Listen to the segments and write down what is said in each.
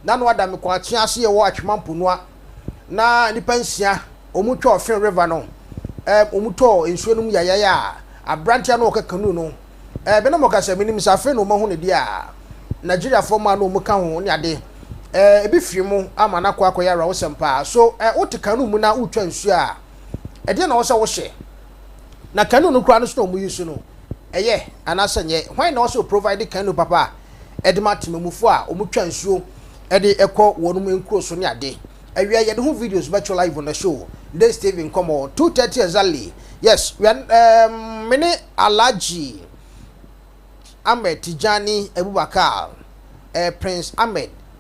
Nano Adda mekɔɔ atsena ase wɔ Atwema mponua na nipa nsia ɔmu twɔɔ Fin River no ɛɛ ɔmu tɔɔ nsuo no mu yayae a abranteɛ no ɔka canoe no ɛɛ me na mɔka sɛ menim sɛ afei na ɔmu ahu ne deɛ a Nigeria foɔ mmaa na ɔmu ka ho ne ade ɛɛ ebi firi mu ama no akɔ akɔyɛ awerɛhosɛm paa so ɛɛ wote canoe mu na wotwa nsuo a ɛdeɛ na ɔwɔ sɛ wohyɛ na canoe no koraa no so na ɔmu use no. Ɛyɛ, anaasɛ ɛnyɛ? Hwan na ɔsɛ ɔprovide canoe papa a ɛde ma temamufo a wɔtwa nsuo de kɔ wɔn nkuro so ne ade? Awia yɛde ho videos bɛto live on the show, Dee Steve Nkɔmmɔ, two thirty exactly. Yes, we are, um, me ne Alhaji Ahmed Tijani Abubakar, uh, Prince Ahmed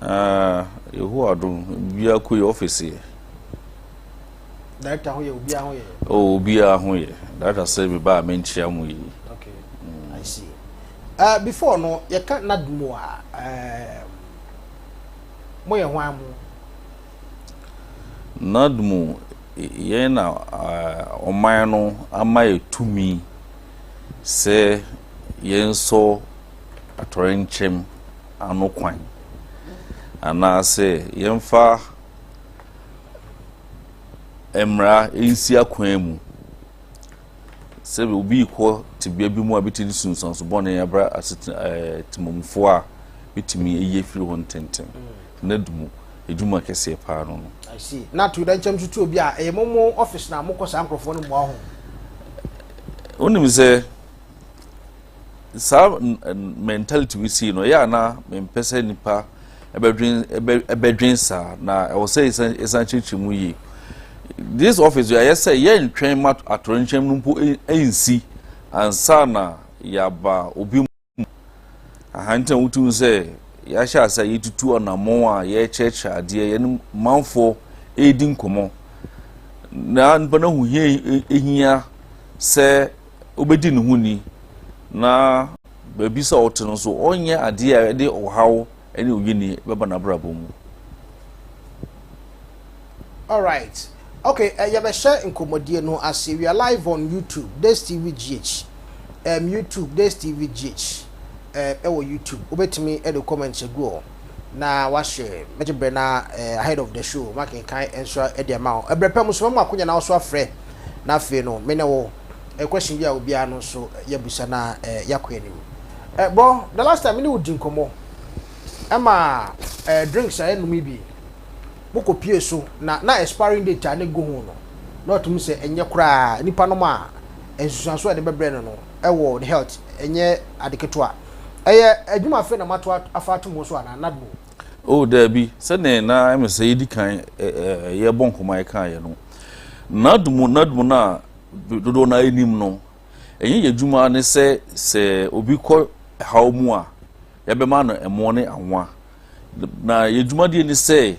Aa Yehowa adom obiara kɔ yi ɔfisi yɛ. Director ho yɛ obiara ho yɛ. Oh obiara ho yɛ. Director sɛ me ba a menkyia mo yi. Okay. Mm. I see. Uh, before no yɛka nadmo a um, moyɛ hwan mo? Nadmo yɛn na uh, ɔman no ama yɛ tumi sɛ yɛnsɔ atɔre nkyɛm ano kwan, anaasɛ yɛmfa mmara nsi akwan mu sɛ obi rekɔ tebea bi mu a bitumi sunsuanso bɔne abra asetena ɛɛ temamufoɔ a bitumi ayi afiri hɔ ntɛntɛm mm. na du mu edwuma kɛseɛ paa no no. I see na to da nkyɛn tutu obi a ɛyɛ mo mo ɔfis na mo kɔ saa nkurɔfoɔ no mmoa ho. wonim sɛ. saa mentality we sii no ɛyɛ a na mempɛ sɛ nnipa ɛbɛdwen saa na ɛwɔ sɛ ɛsan kyerɛkyerɛ mu yie this office yɛ ayɛ sɛ yɛntwɛn ma atorɔnkyɛm no mpo nsi ansa na yɛaba obi mu ahantan wotum sɛ yɛahyɛ ase a yɛtutu anammɔn a yɛrekyerɛkyerɛ adeɛ yɛne manfoɔ ɛredi nkɔmmɔ na nipa no ho hia ɛhia sɛ wobɛdi ne ho ni na baabi sɛ ɔte no nso ɔnyɛ adeɛ a ɛde ɔhaw ne oyini bɛba n'abrabɔ mu. Alright. Okay, uh, eh, yɛbɛhyɛ nkɔmmɔdie no ase. We are live on YouTube, Days TV GH. Um, YouTube, Days TV GH. Uh, eh, ɛwɔ YouTube. Wobɛtumi ɛde comments agu hɔ. na wahyɛ mɛgye brɛ na eh, ahead of the show makenkan nso de ama wo ɛbrɛ pɛ mu soma mu akonya na wɔso afrɛ na afei no me ne wo eh, question bi a obiara no nso yɛbusa na eh, yɛakɔ anim eh, bro the last time me ne wo di nkɔmmɔ ɛma eh, drinks a yɛnom yi bi mokɔ pie so na na expiring date a ne gu ho no na ɔtumi sɛ ɛnyɛ koraa nipa nom a nsusuanso a ɛde bɛbrɛ no no ɛwɔ ne health ɛnyɛ ade ketewa Ɛyɛ adwuma afei na mato afa ato mu so anaa? Nadmo. Oh, daabi. Sɛdeɛ na ɛyɛ me sɛ yɛdi kan yɛrebɔ nkɔmmɔ a yɛkaeɛ no, Nadmo, Nadmo no a dodoɔ no ara nim no, ɛnyɛ yɛn adwuma ne sɛ sɛ obi kɔ haw mu a, yɛbɛma no ɛmoɔ ne anwa. Na yɛn dwumadie ne sɛ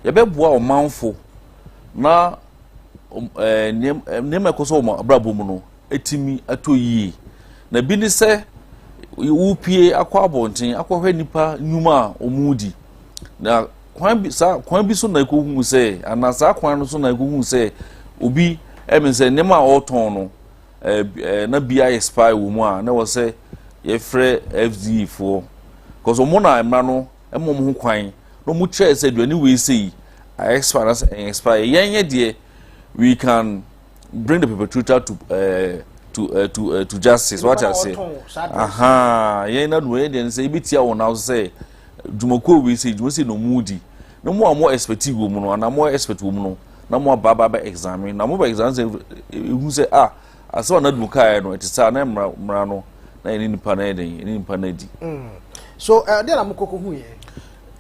yɛbɛboa ɔmanfo na nneɛma ɛkɔ so wɔ wɔn abrabɔ mu no, atumi atɔ yie. Na bi ne sɛ wopie akɔ abɔnten akɔhwɛ nnipa nnwuma a wɔredi. Na kwan bi saa kwan bi so na ɛkɔhu sɛ anaa saa kwan no so na ɛkɔhu sɛ obi ɛmi sɛ nneɛma a ɔretɔn no ɛɛ na bi ayɛ spy wɔ mu a na wɔ sɛ yɛfrɛ FDA foɔ. Kɔsɔ wɔn na mmara no ɛma wɔn ho kwan na wɔn kyerɛ sɛ aduane wei sɛ yi ayɛ spy na sɛ ɛyɛ spy yɛn yɛ deɛ we can. bring the perpetrator to uh, to uh, to uh, to justice wate ase aha yɛn na no yɛn deɛ sɛ ebi tia wɔn nan so sɛ dwumakuo wei sɛ dwuma sɛ na ɔmo di na mo a mo expect wɔ mu no anaa mo expect wɔ mu no na mo aba aba bɛ examine na mo bɛ examine sɛ ehu sɛ ah asɛ wɔn adum kaa yɛ no ɛte sɛ anan mmara mmara no na yɛne nipa na yɛ den yɛne nipa na di. Mm. so ɛdeɛ eh, na mo koko hu yɛ.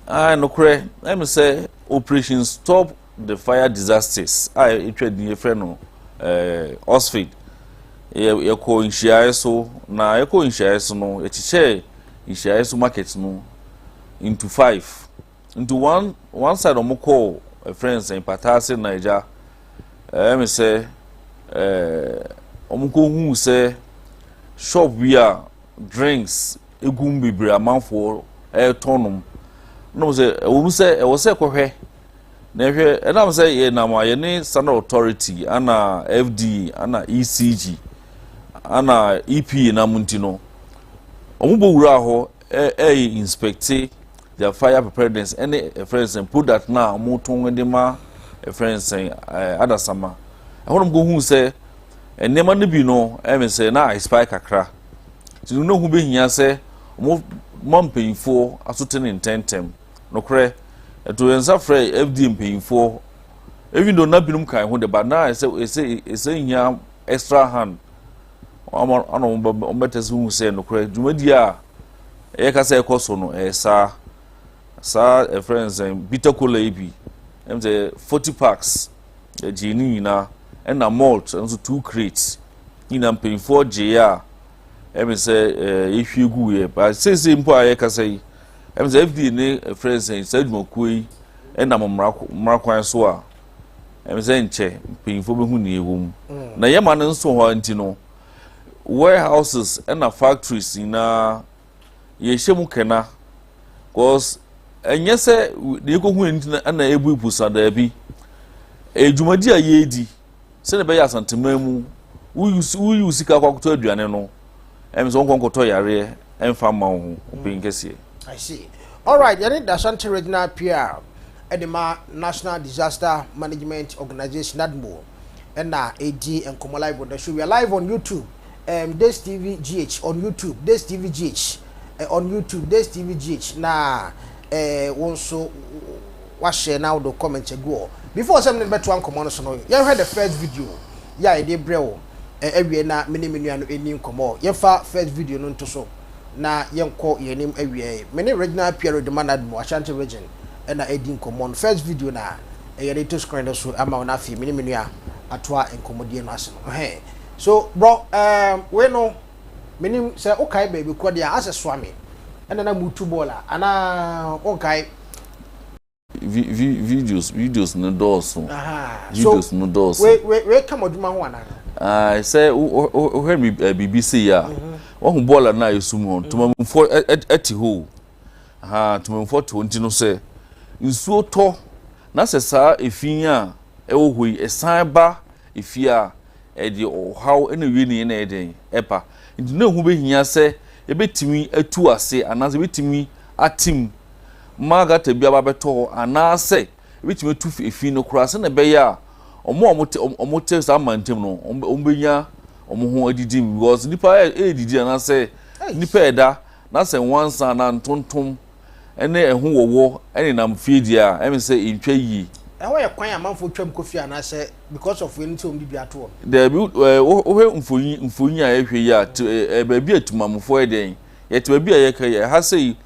aa ah, nokorɛ ɛmi sɛ operation stop The fire disasters a ɛtwa din yɛfrɛ no eh, Oxford yɛkɔ nhyiaeɛ so na yɛkɔ nhyiaeɛ so no yɛkyekyɛɛ nhyiaeɛ so market no into five into one one side wɔn kɔɔ ɛfrɛ eh, nsɛn pataase naija ɛyɛ eh, mi sɛ wɔn kɔ hu sɛ shop bi a drinks egum bebree amanfoɔ ɛretɔn nom na wɔn sɛ ɛwɔ mu sɛ ɛwɔ sɛ kɔhwɛ. Na ɛhwɛ, ɛnam sɛ yɛnam a yɛne Standard Authority ana FDA ana ECG ana EPA nam nti no, wɔn bɔ wuraa hɔ ɛyɛ inspecte their fire preparedness ɛne ɛfrɛ nsɛn product na wɔn tɔn de ma ɛfrɛ nsɛn ɛɛ adasama ɛhɔ nom ko hu sɛ nneɛma no bi no ɛmɛ sɛ na expire kakra nti no na ho bɛhia sɛ wɔn ma mpanyinfoɔ aso te ne ntɛntɛm. Nokorɛ, yɛtoo yɛn nsa frɛɛ FDA mpanyinfoɔ, even though na binom kae ho de, but na ɛsɛ ɛsɛ ɛsɛ hia extra hand ama ana wɔbɛtɛ sɛ hu sɛ nokorɛ dwumadie a ɛyɛ ka sɛ ɛkɔ so no ɛyɛ saa saa ɛfrɛ nsɛn bitter cola yi bi ɛm sɛ 40 packs ɛgyee ne nyinaa ɛna malt nso two crates nyinaa mpanyinfoɔ gyeeɛ a ɛm sɛ ɛɛ yɛhwie gu yɛ ba seesei mpo a yɛkasa yi Ɛfiri sɛ FDA ne ɛfrɛ no sɛ saa adwumakuo yi nam mmara mmara kwan so a ɛfiri sɛ nkyɛ mpanyinfoɔ bɛhu nea ɛwɔ mu mm. na yɛma no nso hɔ nti no warehouses ɛna factories nyinaa yɛhyɛ mu kɛna cause ɛnyɛ sɛ deɛ yɛkɔhu ɛnti na ɛna ɛbu ipusa daabi ɛdwumadi a yɛredi sɛdeɛ ɛbɛyɛ asanteman mu woyi wo sika akɔ akɔtɔ aduane no ɛm sɛ wonkɔ nkɔtɔ yareɛ ɛmfa mma wo ho wopɛn mm. kɛseɛ I see. All right, yɛne Dasante Regional PR ɛde ma National Disaster Management Organization NADMO ɛna ɛdi nkɔmɔ live on the show. We are live on YouTube, um, Days TV GH on YouTube, Days TV GH uh, eh, on YouTube, Days TV GH. Na eh, wo nso wahyɛ na wode comment agu hɔ. Before sɛ me ne no bɛtoa nkɔmmɔ no so no, yɛnhwɛ the first video yɛ a yɛde brɛ wo eh, awie na me ne me nua no ɛni nkɔmmɔ. Yɛmfa first video no nto so na yɛnkɔ yɛn anim awie. Me ne Reginald Pierre de Manadmo, Ashanti Region ɛna ɛredi nkɔmmɔ no. First video no a eh, yɛde to screen no so ama wo na afei me ne me nua atoa nkɔmmɔdie no ase no. Ɛhɛn. So, brɔ, eh, wei no, Menim sɛ wokae baabi kɔ deɛ asɛ soa me ɛna na motu bɔɔl a anaa wonkae. Videos videos no dɔɔso videos no dɔɔso. So wei wei ka mo adwuma ho anaa. Ae sɛ wohwɛ biribi sei a wahu bɔɔl a na ɛsum hɔ ntomamfoɔ ɛte hɔ o ahaa ntomamfoɔ te hɔ nti no sɛ nsuo tɔ na sɛ saa efin a ɛwɔ hɔ yi ɛsan ba efie a. Ɛde ɔhaw na ewie ne yɛ na ɛyɛ dɛn? Ɛba. Nti na ɛho bɛhia sɛ yɛbɛtumi atu ase anaasɛ yɛbɛtumi atem ma gata bi aba abɛtɔ hɔ anaasɛ yɛbɛtumi atu efi no koraa sɛdeɛ ɛbɛyɛ a wɔn a wɔte wɔte saa mantam no wɔn wɔn bɛnya wɔn ho adidi mu because nipa yɛ yɛredidi anaasɛ nipa ɛda Na sɛ nwansa anaa ntontom ne ɛho wɔwɔ nenam fie deɛ a, ɛne sɛ ɛntwa yie. Ɛhɔ yɛ kwan a amanfoɔ twam kɔ fie anaasɛ because of wei nti wɔn de dua to hɔ? Daabi, wohwɛ mfoni mfoni a yɛhwɛ yi a, te baabi a Timamufoɔ yɛ dɛn? Yɛte baabi a yɛka yi a, ɛha sei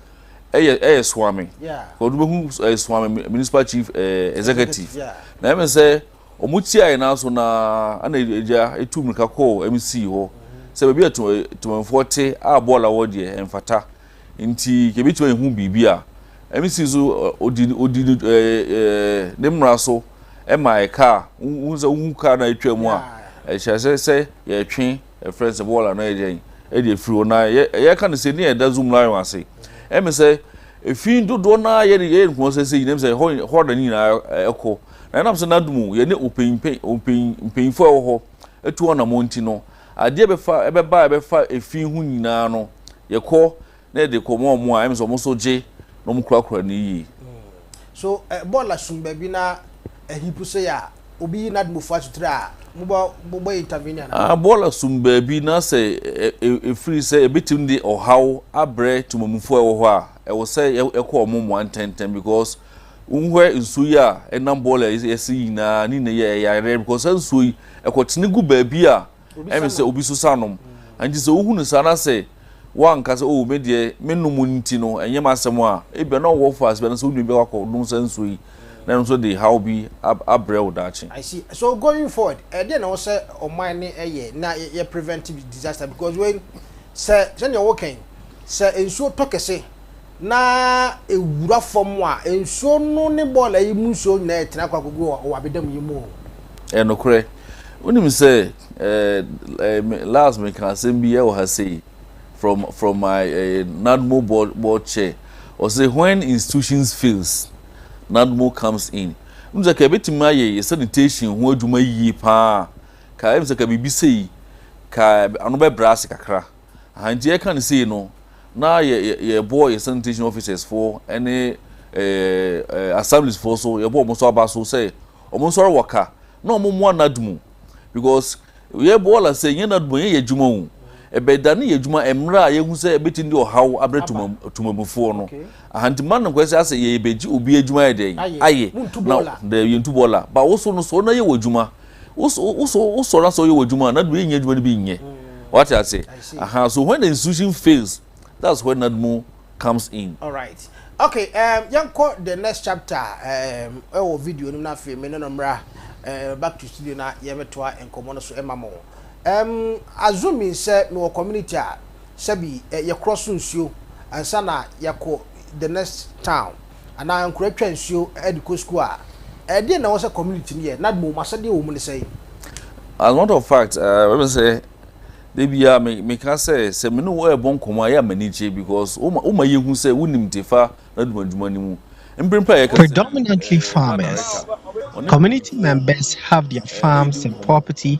ɛyɛ ɛyɛ Soame, because wobɛhu Soame Municipal Chief Executive, na ɛne sɛ Wɔtiae nanso na na agya tu mmirika kɔɔ MC hɔ sɛ baabi a tewɛmfoɔ te a bɔɔla wɔ deɛ ɛmfata nti nka ɛbɛtumi ayɛ ho biribi a. MC nso ɔdi ne mmara so mae kaa. Wohu sɛ wohu kaa no a ɛtwa mu a ɛkyerɛ sɛ sɛ yɛretwe ɛfrɛ no sɛ bɔɔla no ayɛ dɛn de afiri hɔ na yɛreka no sɛ nea ɛda Zoom Lion ase ɛmɛ sɛ ɛfi dodoɔ no ara yɛyɛ no kɔmɔ sɛ sɛ nyinam sɛ hɔ na ne nyinaa ɛkɔ. Na ɛnam sɛ n'adom mu yɛ ne mpanyimfo a ɛwɔ hɔ atu wɔn anammɔn nti no, ade a ɛbɛfa ɛbɛba a ɛbɛfa efi ho nyinaa no, yɛkɔ na yɛde kɔma wɔn a ɛm sɛ wɔn nso gye na wɔkurakura no yiye. So ɛbɔ lasom baabi na ahipu so yɛ a, obi yi n'adom fua so tiri a, mobɔ mobɔ intervene anaa? Ah, ɛbɔ lasom baabi na sɛ efiri sɛ ebetumi de ɔhaw abrɛ temamufo a ɛwɔ hɔ a, ɛwɔ sɛ yɛkɔ wɔn mmoa ntɛntɛm because Wohuɛ nsuo yi a ɛnam bɔɔl a yɛsi yi nyinaa ne nyinaa yɛ yareɛ because saa nsuo yi ɛkɔtene gu baabi a ɛmɛ sɛ obi so sa nom nti sɛ wohu no saa na sɛ woanka sɛ oh me deɛ me nom nti no ɛnyɛ m'asɛm a ebia na ɔwɔ faase bi na sɛ wodwa bi akɔ nom saa nsuo yi na ɛno nso de haw bi abrɛ wo daakye. I see so going forward ɛdeɛ na ɛwɔ sɛ ɔman no ɛyɛ na yɛ prevent disaster because wei sɛ sɛdeɛ woka yi sɛ nsuo tɔ kɛse. na ɛwura fam a, nsuo no ne bɔɔla yi mu nsuo nyinaa retene akɔ akɔgu wɔ ɔwabedam yi mu o. Ɛyɛ nokorɛ. Wonim sɛ last mekaa asɛm bi wɔ ha sei from from my NADMO board board chair, ɔse when institutions fails, NADMO comes in. Wonim sɛ nka yɛbɛtumi ayɛ yɛ sanitation ho adwuma yie paa a, nka ɛm sɛ nka biribi sei nka ano bɛbrɛ ase kakra. Aha nti yɛka no sei no, na yɛ yɛ bɔ yɛ sanitation officers foɔ ɛne ɛɛ assemblies foɔ so, yɛ bɔ wɔn so aba so sɛ wɔn nso wɔ ka na wɔn mmoa NADMU because yɛ bɔ ɔla sɛ yɛ NADMU yɛ yɛ adwuma o, ɛbɛ da ne yɛ adwuma mmerɛ a yɛ hu sɛ ɛbɛtumi de ɔhaw abrɛ tuma tumamufoɔ no. Aha nti ma no nkɔ sɛ asɛ yɛ yɛ bɛgye obi adwuma yɛ dɛn ayɛ na dɛ yɛ ntu bɔ ɔla ba woso no so ɔna yɛ wɔ adwuma. wosɔre asɛ ɔyɛ wɔ adwuma a n'adwuma yɛnyɛ adwuma no bi nyɛ wate ase aha so when the institution fails that's when nadmo comes in. all right okay um, yɛnkɔ the next chapter um, ɛwɔ video no mu na afei me ne no mmra uh, back to studio na yɛbɛtoa nkɔmmɔ no so ɛma mo um, assuming sɛ mewɔ community a sɛbi uh, yɛkorɔ so nsuo ansa na yɛkɔ the next town anaa nkura twa nsuo de kɔ sukuu a, ɛdeɛn na ɛwɔ sɛ community no yɛ na mmom asɛdeɛ wɔ mu ne sɛn? As a matter of fact, ɛwɔ me sɛ da biara me meka sɛ sɛ me ne wo ɛrebɔ nkɔmmɔ a ɛyɛ a m'ani gye because woma woma yɛhu sɛ wonim te fa n'adumadwuma no mu mprempren a yɛka sɛ Predominantly farmers, community members have their farms and property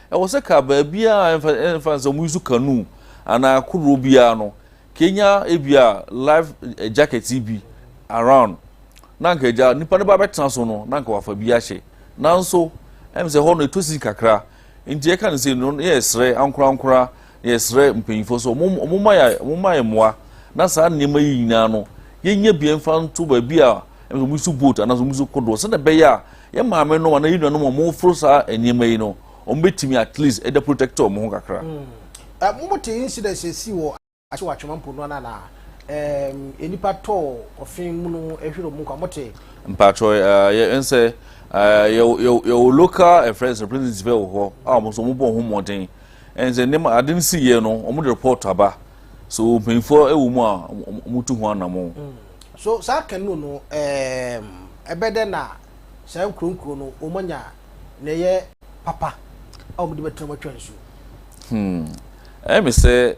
Ɛwɔ sɛ ka baabiara a ɛmfa ɛmfa no sɛ wɔyi so canoe anaa kodoɔ biara no kenya ebia life jacket yi bi around na anka agya nipa no ba bɛtena so no na anka wafa bi ahyɛ nanso ɛm sɛ hɔ no ɛtɔ si kakra nti ɛka no sɛ no yɛ srɛ ankorankora Yɛsrɛ mpanyimfoɔ sɛ wɔn wɔn mma yɛn wɔn mma yɛn mmoa na saa nneɛma yi nyinaa no yɛnya bi mfa nto baabi a ɛmɛ wɔn su boat anaasɛ wɔn su kodoɔ sɛdeɛ ɛbɛyɛ a yɛn maame nom anaa yɛn nuanom a wɔn foro saa nneɛma yi no wɔn bɛtumi at least ɛda protect wɔn ho kakra. Mm. Mo mo te incidents esi wɔ akyi wɔ atwema mpo no na ɛɛ nipa tɔ ɔfin mu no ehwere wɔn kwa mo te. Mpatsɔ ɛɛ yɛ nsɛ ɛɛ yɛ yɛ yɛ wɔ local ɛfrɛ nsɛ representative wɔ hɔ a wɔn nso wɔn bɔ wɔn ho mmɔden. Ɛne sɛ nneɛma ade no si yɛ no wɔn de report aba so mpanyinfoɔ ɛwɔ mu a wɔn tu ho anamɔ. Mm. So saa kanu no ɛɛm ɛbɛ dɛ na saa nkuronkuro no wɔn anya na ɛyɛ papa a wɔn de bɛtena mu atwa nsuo. Hmm. Ɛyɛ mi sɛ.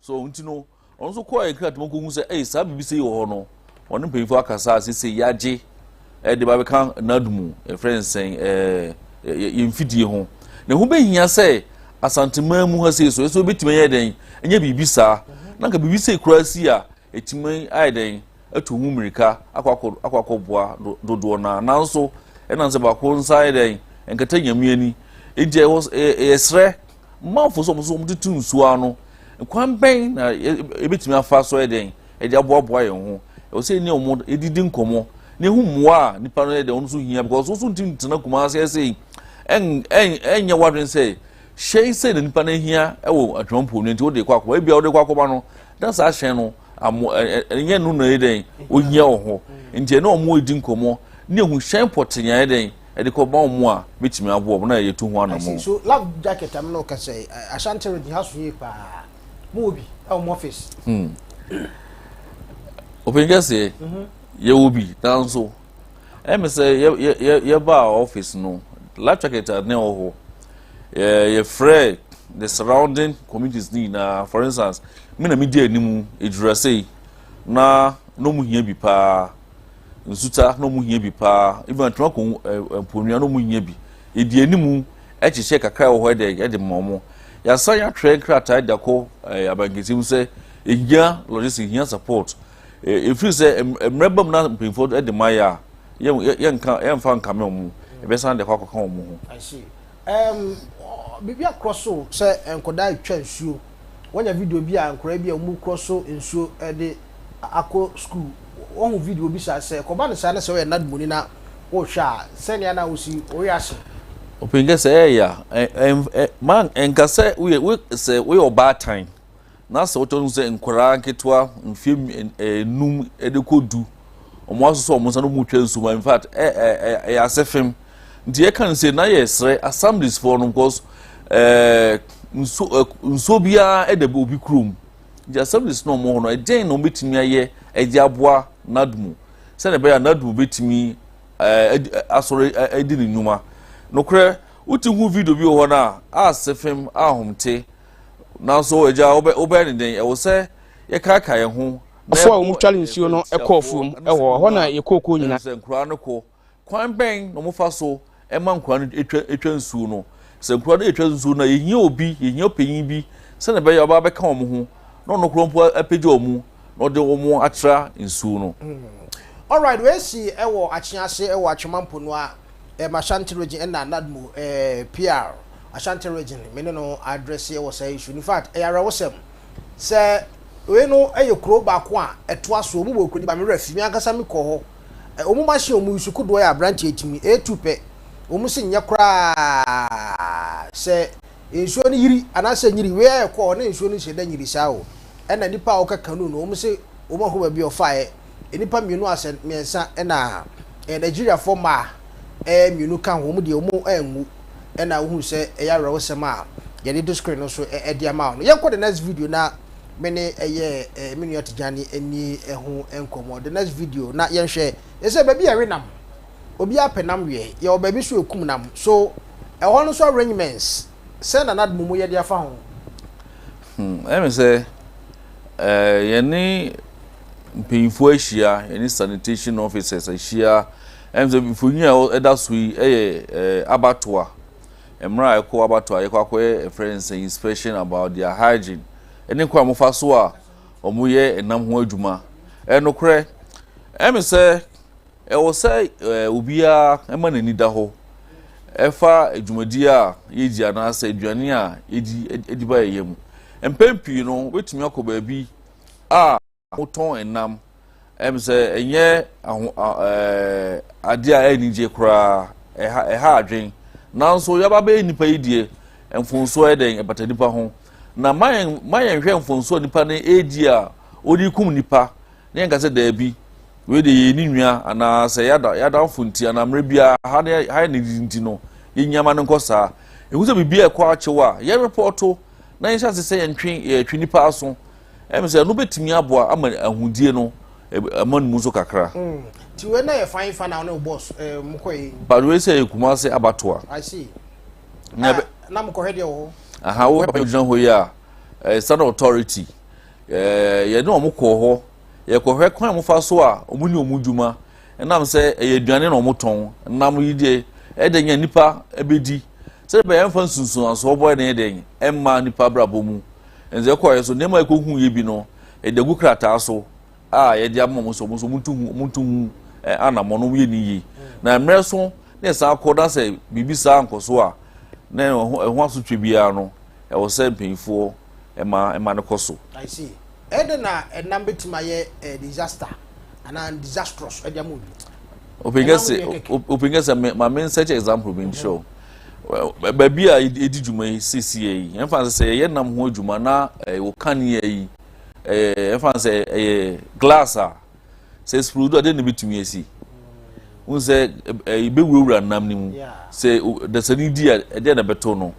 So ɔno nti no ɔno nso kɔɔ yɛ kratom kɔhu sɛ ɛyɛ saa biribi sei wɔ hɔ no ɔne mpanyinfoɔ akasa a sese yɛagye ɛde ba bɛka nad mu ɛfrɛ nsɛn ɛɛ yɛn mfidie ho na ɛho bɛhia sɛ asanteman mu ha sei so ɛso bɛtumi yɛ dɛn ɛnyɛ biribi saa na nka biribi sei koraa si a Etumi ayɛ dɛn atu ho mmirika akɔ akɔboa dodoɔ no ara, nanso ɛnam sɛ baako nsa ayɛ dɛn nkata nyame ani. Enti ɛwɔ yɛsrɛ manfo sɛ wɔn nso wɔtutu nsuo ano. Kwan bɛn na yɛbɛtumi afa so yɛ dɛn de aboaboa yɛn ho? Ɛwɔ sɛ yɛne wɔn didi nkɔmmɔ na ehu mmoa a nipa no yɛ dɛn wɔn nso hia because wɔn nso ntumi ntena kumase ɛsɛ yi ɛnyɛ wadwene sɛ hyɛn sɛ na nipa no hia wɔ atwampuo no nti wɔde kɔ akɔma ebi a wɔde kɔ akɔma no na saa hyɛn no amo ɛnyɛ no na yɛ dɛn ohia wɔ hɔ nti ɛna wɔn redi nkɔmɔ ne ehu hyɛn pɔtee yɛ dɛn ɛde kɔ ba wɔn a betumi aboa wɔn na yɛ tu ho anamɔ. so lab jacket am na ɔka sɛ ashanti redi ha so yie paa mo wɔ bi ɛwɔ mo ɔfis. ɔpɛn kɛseɛ yɛ wɔ bi nanso. ɛmi sɛ yɛ yɛ yɛ yɛbaa office no life jacket ne wɔ hɔ yɛ yɛfrɛ the surrounding communities ne nyinaa for instance mi na mi di anim edurasei na na ɔmo hia bi paa nsuta na ɔmo hia bi paa ebi atwuma kɔn mponua na ɔmo hia bi edi anim ɛkyekyɛ kakra wɔ hɔ ɛdɛ ɛde ma ɔmo yasan yɛatwerɛ nkrataa de akɔ ɛɛ abankesim sɛ ehia logistics ehia support. Ɛfiri sɛ mmerɛ bam na mpanyinfoɔ de mayɛ a, yɛnka yɛnfa nkame wɔn, yɛbɛsan de ɛhɔ akɔka wɔn ho. I see. Um, biribi akorɔ so sɛ nkwadaa retwa nsuo. Wanya video bi a nkwadaa bi a wɔn korɔ so nsuo de akɔ sukuu. Wɔhu video bi saa sɛ ɛkɔba no saa na sɛ wɔyɛ nadmoni na wɔhwɛ a sɛnea na wɔsi wɔyɛ ase. Ɔpɛnkɛ sɛ ɛyɛ a, man nka sɛ woyɛ sɛ woyɛ ɔbaatan. na sɛ wotɔ no sɛ nkwadaa nketewa mfie nnum de kɔ du wɔn asosɔ wɔn nsa na wɔn retwa nsuma in fact ɛ ɛ ɛ ɛyɛ ase fam nti yɛka no sɛ na yɛ srɛ assemblies foɔ no because ɛɛ nso ɛ nsuo biara ɛda bi obi kurom nti assemblies na wɔn hɔ no ɛdɛn na wɔbɛtumi ayɛ ɛde aboa nadmo sɛdeɛ ɛbɛyɛ a nadmo bɛtumi ɛɛ asɔre ɛdi ne nnwuma nokorɛ wotu hu video bi wɔ hɔ no a asɛ fam ahomte. Nanso, Agya, wobɛyɛ ne dɛn? Ɛwɔ sɛ yɛkaakae yɛn ho na yɛbɔ yɛn ho asu atia no anaa? Ɛnde nkuraa no kɔ. Kwan bɛn na wɔfa so ma nkuraa no twa nsuo no? Sɛ nkuraa no retwa nsuo no a, yɛhia obi, yɛhia ɔpanyin bi sɛnea ɛbɛyɛ a ɔbɛba abɛka wɔn ho na ɔno koraa mpo apagya wɔn. na ɔde wɔn atra nsuo no. Alright, wei si wɔ Akyea ase wɔ Atwema Mponua, ɛm Ashanti Region ɛna Nadmo ɛɛ PR Ashanti Region me ne no adrɛse wɔ saa issue no. In fact ɛyɛ awerɛhosɛm sɛ wei no yɛ kuro baako a ɛtoa soɔ wɔn wɔ kuro no ba me werɛ fi me ankasa me kɔɔ hɔ ɛ wɔn machine wɔn use kodoɔ yɛ aberanteɛ timi ɛtu pɛ wɔn se nyɛ koraa sɛ Nsuo no yiri anaasɛ nyiri wei a ɛkɔ hɔ na nsuo no nhyɛ da nyiri saa o ɛna nnipa a wɔka kanu no wɔn se wɔn ahunu baabi a ɔfaeɛ nnipa mmienu asɛ mmiɛnsa ɛna ɛɛ Nigeriafoɔ mmaa ɛɛ mmienu ka ho wɔn deɛ wɔn anwu ɛna wohunu sɛ ɛyɛ awerɛhosɛm a yɛde to screen no so ɛde ama wo no yɛnkɔ the next video na me ne ɛyɛ ɛɛ me nua Tijani ɛni ɛho nkɔmmɔ the next video na yɛnhwɛ yɛsɛ baabi a ɛwe nam Obiara pɛ nam wiɛ. Yɛwɔ baabi so ekum nam. So ɛhɔ no so arrangements sɛn na nad momu yɛ de afa ho? Hmm, ɛyɛ me sɛ eh, yɛne mpanyinfoɔ ahyia, yɛne sanitation officers ahyia. Ɛyɛ me sɛ mfonyin a ɛda so yi ɛyɛ eh, abatoa. Mmerɛ a ɛkɔ abatoa, yɛkɔ akɔyɛ ɛfrɛ no sɛ inspection about their hygiene. Ɛne kwan a wɔfa so a wɔyɛ nam ho adwuma. Ɛyɛ nokorɛ, ɛyɛ me sɛ. Ɛwɔ sɛ obiara ma n'ani da hɔ fa dwumadi a yedi anaasɛ aduane a yedi de ba ayɛyɛ mu. Mpɛn pii no, wobetumi akɔ baabi a wotɔn nnam, ɛm sɛ ɛnyɛ ade a anigye koraa, ɛha adwene. Nanso yɛaba bɛyɛ nnipa yi deɛ, mfonsoɔ yɛ dɛn? Ɛbata nnipa ho. Na ma yɛnhwɛ mfonsoɔ a nnipa no redi a wɔde rekum nnipa Na yɛnka sɛ, Daabi, wei deɛ yɛyɛ ne nua, anaa sɛ yɛn adamfo nti, anaa mmerɛ biara ha ne ha yɛ ne didi nti no, yɛn nneɛma no nkɔ saa. Ɛhu sɛ biribiara ɛkɔ akyew a, yɛn repɔɔto na yɛnhyɛ ase sɛ yɛntwe yɛtwe nipa aso. Ɛm sɛ ɛno bɛtumi aboa ama ahudie no ama no mu nso kakra. Mm. Ti wei na yɛ fan fan na wo ne wo boss eh, mokɔ yi. But wei sɛ yɛ kuma ase abatoa. I see. Na, na mokɔhwɛ deɛ wɔ hɔ. Aha, wo papa gyina hɔ yi a, eh, standard authority. Yɛne wɔn kɔɔ hɔ. Yɛkɔhwɛ kwan a wɔfa so a wɔyɛ wɔn adwuma. Ɛnam sɛ ɛyɛ aduane na wɔtɔn. Nam yi deɛ, ɛyɛ dɛ nya nnipa bɛdi. Sɛdeɛ ɛbɛyɛ ɛmfa nsunsuansoɔ bɔne no yɛ dɛ mma nnipa abrabɔ mu. Ɛnti yɛkɔeɛ so nneɛma a yɛkɔhuiɛ bi no, yɛde agu krataa so a yɛde ama wɔn sɛ wɔn nso wɔntu ho wɔntu ho anammɔn na wɔyɛ ne yie. Na mmerɛ so na yɛsan kɔ na sɛ biribi saa nkɔ so a na ɛho asotwe biara no ɛwɔ sɛ mpanyinfoɔ ɛma ɛma no kɔ so. I see. Ɛdɛn na ɛnam bɛtumi ayɛ eh, disaster anaa disastrous ɛde ama obi? Open kɛ sɛ ma me nsɛkyɛ example bi nkyerɛ o. Mhm. Baabi a ɛdi dwuma yi siesie yi, ɛmfa sɛ sɛ yɛyɛ nam ho adwuma na ɛwɔ eh, kanea yi, ɛmfa eh, sɛ ɛyɛ glass a, sɛ sprodo a dɛn na ebetumi asi n sɛ ebewurawura nam no mu sɛ dasani di a ɛdɛn na ɛbɛto no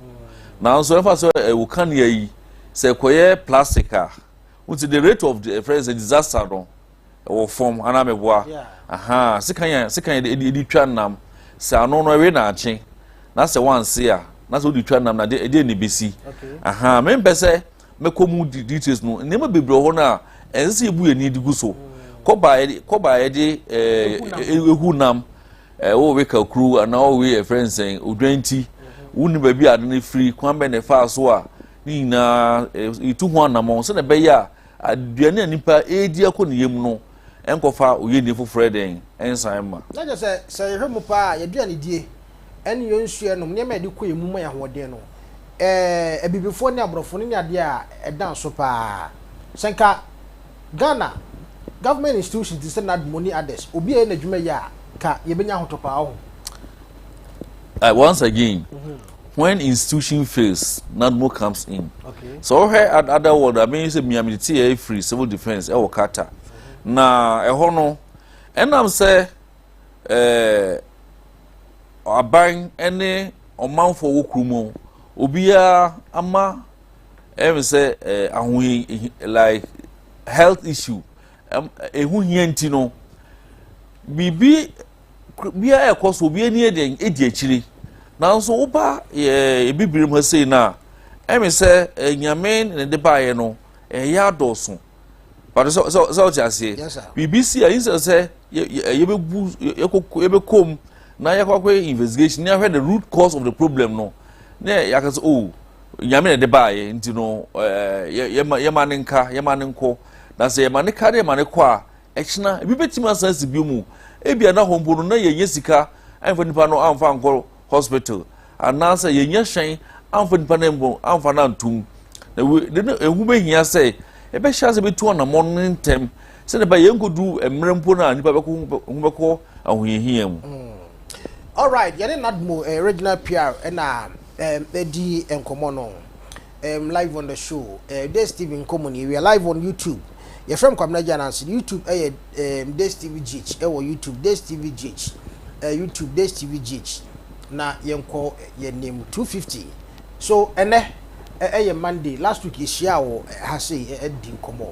nanso ɛfa sɛ ɛwɔ kanea yi sɛ ɛkɔyɛ plastic a n sɛ the rate of the friends disaster no ɛwɔ fam anaa mɛboa aha sekan yɛ sekan yɛ ɛdi twa nam sɛ ano no ɛwe na akye na sɛ wanse a na sɛ wodi twa nam na ɛdɛn na ebesi aha mempɛ sɛ mɛkɔ mu de details no nneɛma bebree wɔ hɔ no a ɛnsɛ sɛ yɛbu yɛn ani de gu so kɔba kɔba a yɛde ɛɛ ehu nam ɛɛ wɔwe kakuru anaa wɔwe ɛfrɛ nsɛn odwan ti wonni baabi a ade no firi kwan bɛn na ɛfaa so a ne nyinaa yɛtu ho anammɔn sɛnea ɛbɛyɛ a aduane a nipa ɛredi akɔ ne yam no ɛnkɔfa oyieni foforɔ yɛ dɛn? ɛnsan mma. Na kyerɛ sɛ, sɛ yɛhwɛ mu paa a, yɛn aduanedie ne yɛn nsuo a yɛnom, nneɛma a yɛde kɔ yɛn mu ma yɛn ahoɔden no, Abibifoɔ ne Aborɔfo no ne adeɛ a ɛda nso paa. Sɛ nka Ghana government institutions te sɛ NADMO ne others, obi a ɛyɛ n'adwuma yie a, nka yɛbɛnya ahotɔ paa, woahu. Once again, mm-hmm. when institution fails nadmo comes in sɛ wohwɛ other world a bɛyɛ sɛ mia mede te yɛ free civil defence ɛwɔ qatar na ɛhɔ no ɛnam sɛ ɛɛ aban ne ɔmanfoɔ wɔ kuro mu obiara ama ɛmi sɛ ɛɛ ahohi like health issue ɛho hia nti no biribi bia ɛkɔ so obi ani ɛdi ɛdi akyire nanso woba ɛɛ eh, bibiri mu sei no a ɛmi sɛ eh, nyame ne de baeɛ no ɛyɛ eh, adɔɔso pàtó sɛ sɛ sɛ ɔte aseɛ biribi si a yi sɛ sɛ yɛbɛbu yɛbɛkɔm na yɛkɔ akɔ investigation na yɛahwɛ the root cause of the problem no na yɛaka sɛ o oh, nyame na de baayɛ nti no ɛɛ yɛma yɛma ne nka yɛma ne nkɔ na sɛ yɛma ne ka ne yɛma ne kɔ a. Ɛkyena, ebi betumi asan asi bio mu. Ebia na hɔ mpo no, na yɛnyɛ sika amfa nipa no amfa ankɔ hospital, anaasɛ yɛnyɛ hyɛn amfa nipa no mpo amfa no antom. Na wei de no, ehu behia sɛ yɛbɛhyɛ ase betu anammɔn no ntɛm, sɛnea ɛbɛyɛ yɛnkodu mmerɛ mpo no a nipa bɛkɔ ho bɛkɔ ahohiahia mu. Mm. Alright, yɛne Nadmo eh, Regina Piar na eh, di nkɔmmɔ no. um live on the show uh, this tv nkɔmmɔ ni we are live on youtube yɛfrɛ m kwabena gya nanso youtube ɛyɛ eh, um, this tv gh ɛwɔ youtube this tv gh uh, eh, youtube this tv gh na yɛnkɔ yɛn nim 250 so ɛnɛ ɛyɛ monday last week yɛhyia wɔ ha sei ɛdi nkɔmmɔ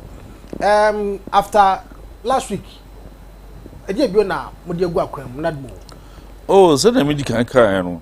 um, after last week ɛdeɛ bio na mode agu akwan mu nadmo o oh, sɛdeɛ medi kan kaeɛ no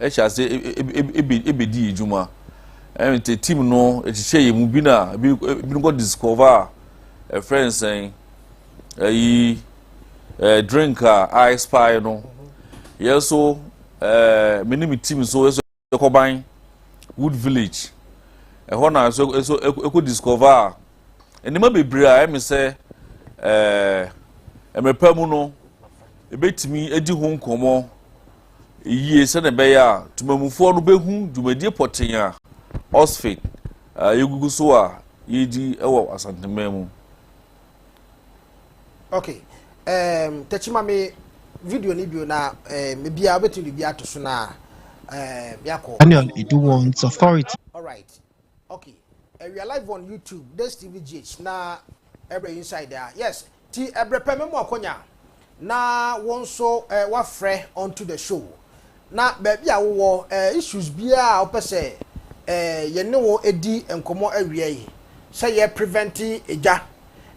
hyɛ ase bedi yɛn dwuma. Ɛn te team no kyekyɛ yɛn mu bi na bi bi kɔ discover a ɛfrɛ nsɛn ɛyi ɛɛ drink a ice pie no. Yɛn so ɛɛ me ne me team so yɛn so yɛkɔ ban wood village. Ɛhɔ na so so ɛkɔ discover a nneɛma bebree a ɛmi sɛ ɛɛ ɛmɛpa mu no ebetumi edi ho nkɔmɔ. yiye sɛnea ɛbɛyɛ a temammufoɔ no bɛhu dwumadie pɔtee a Ɔsfek a yɛgugu so a yɛredi wɔ Asanteman mu. Ok, um, tɛkyi ma me video no bio na um, biribiara wobɛtumi biribiara ato so no a um, yɛakɔ. Daniel Iduwon's authority. All right. Ok ɛwia live on YouTube this TV GH na ɛbrɛ inside a yes ti ɛbrɛ pɛ mɛmu akonya na wɔn nso eh, wafrɛ onto the show na baabi a wowɔ eh, issues biara a wopɛ sɛ eh, yɛne wo edi nkɔmmɔ awia yi sɛ yɛ prevent egya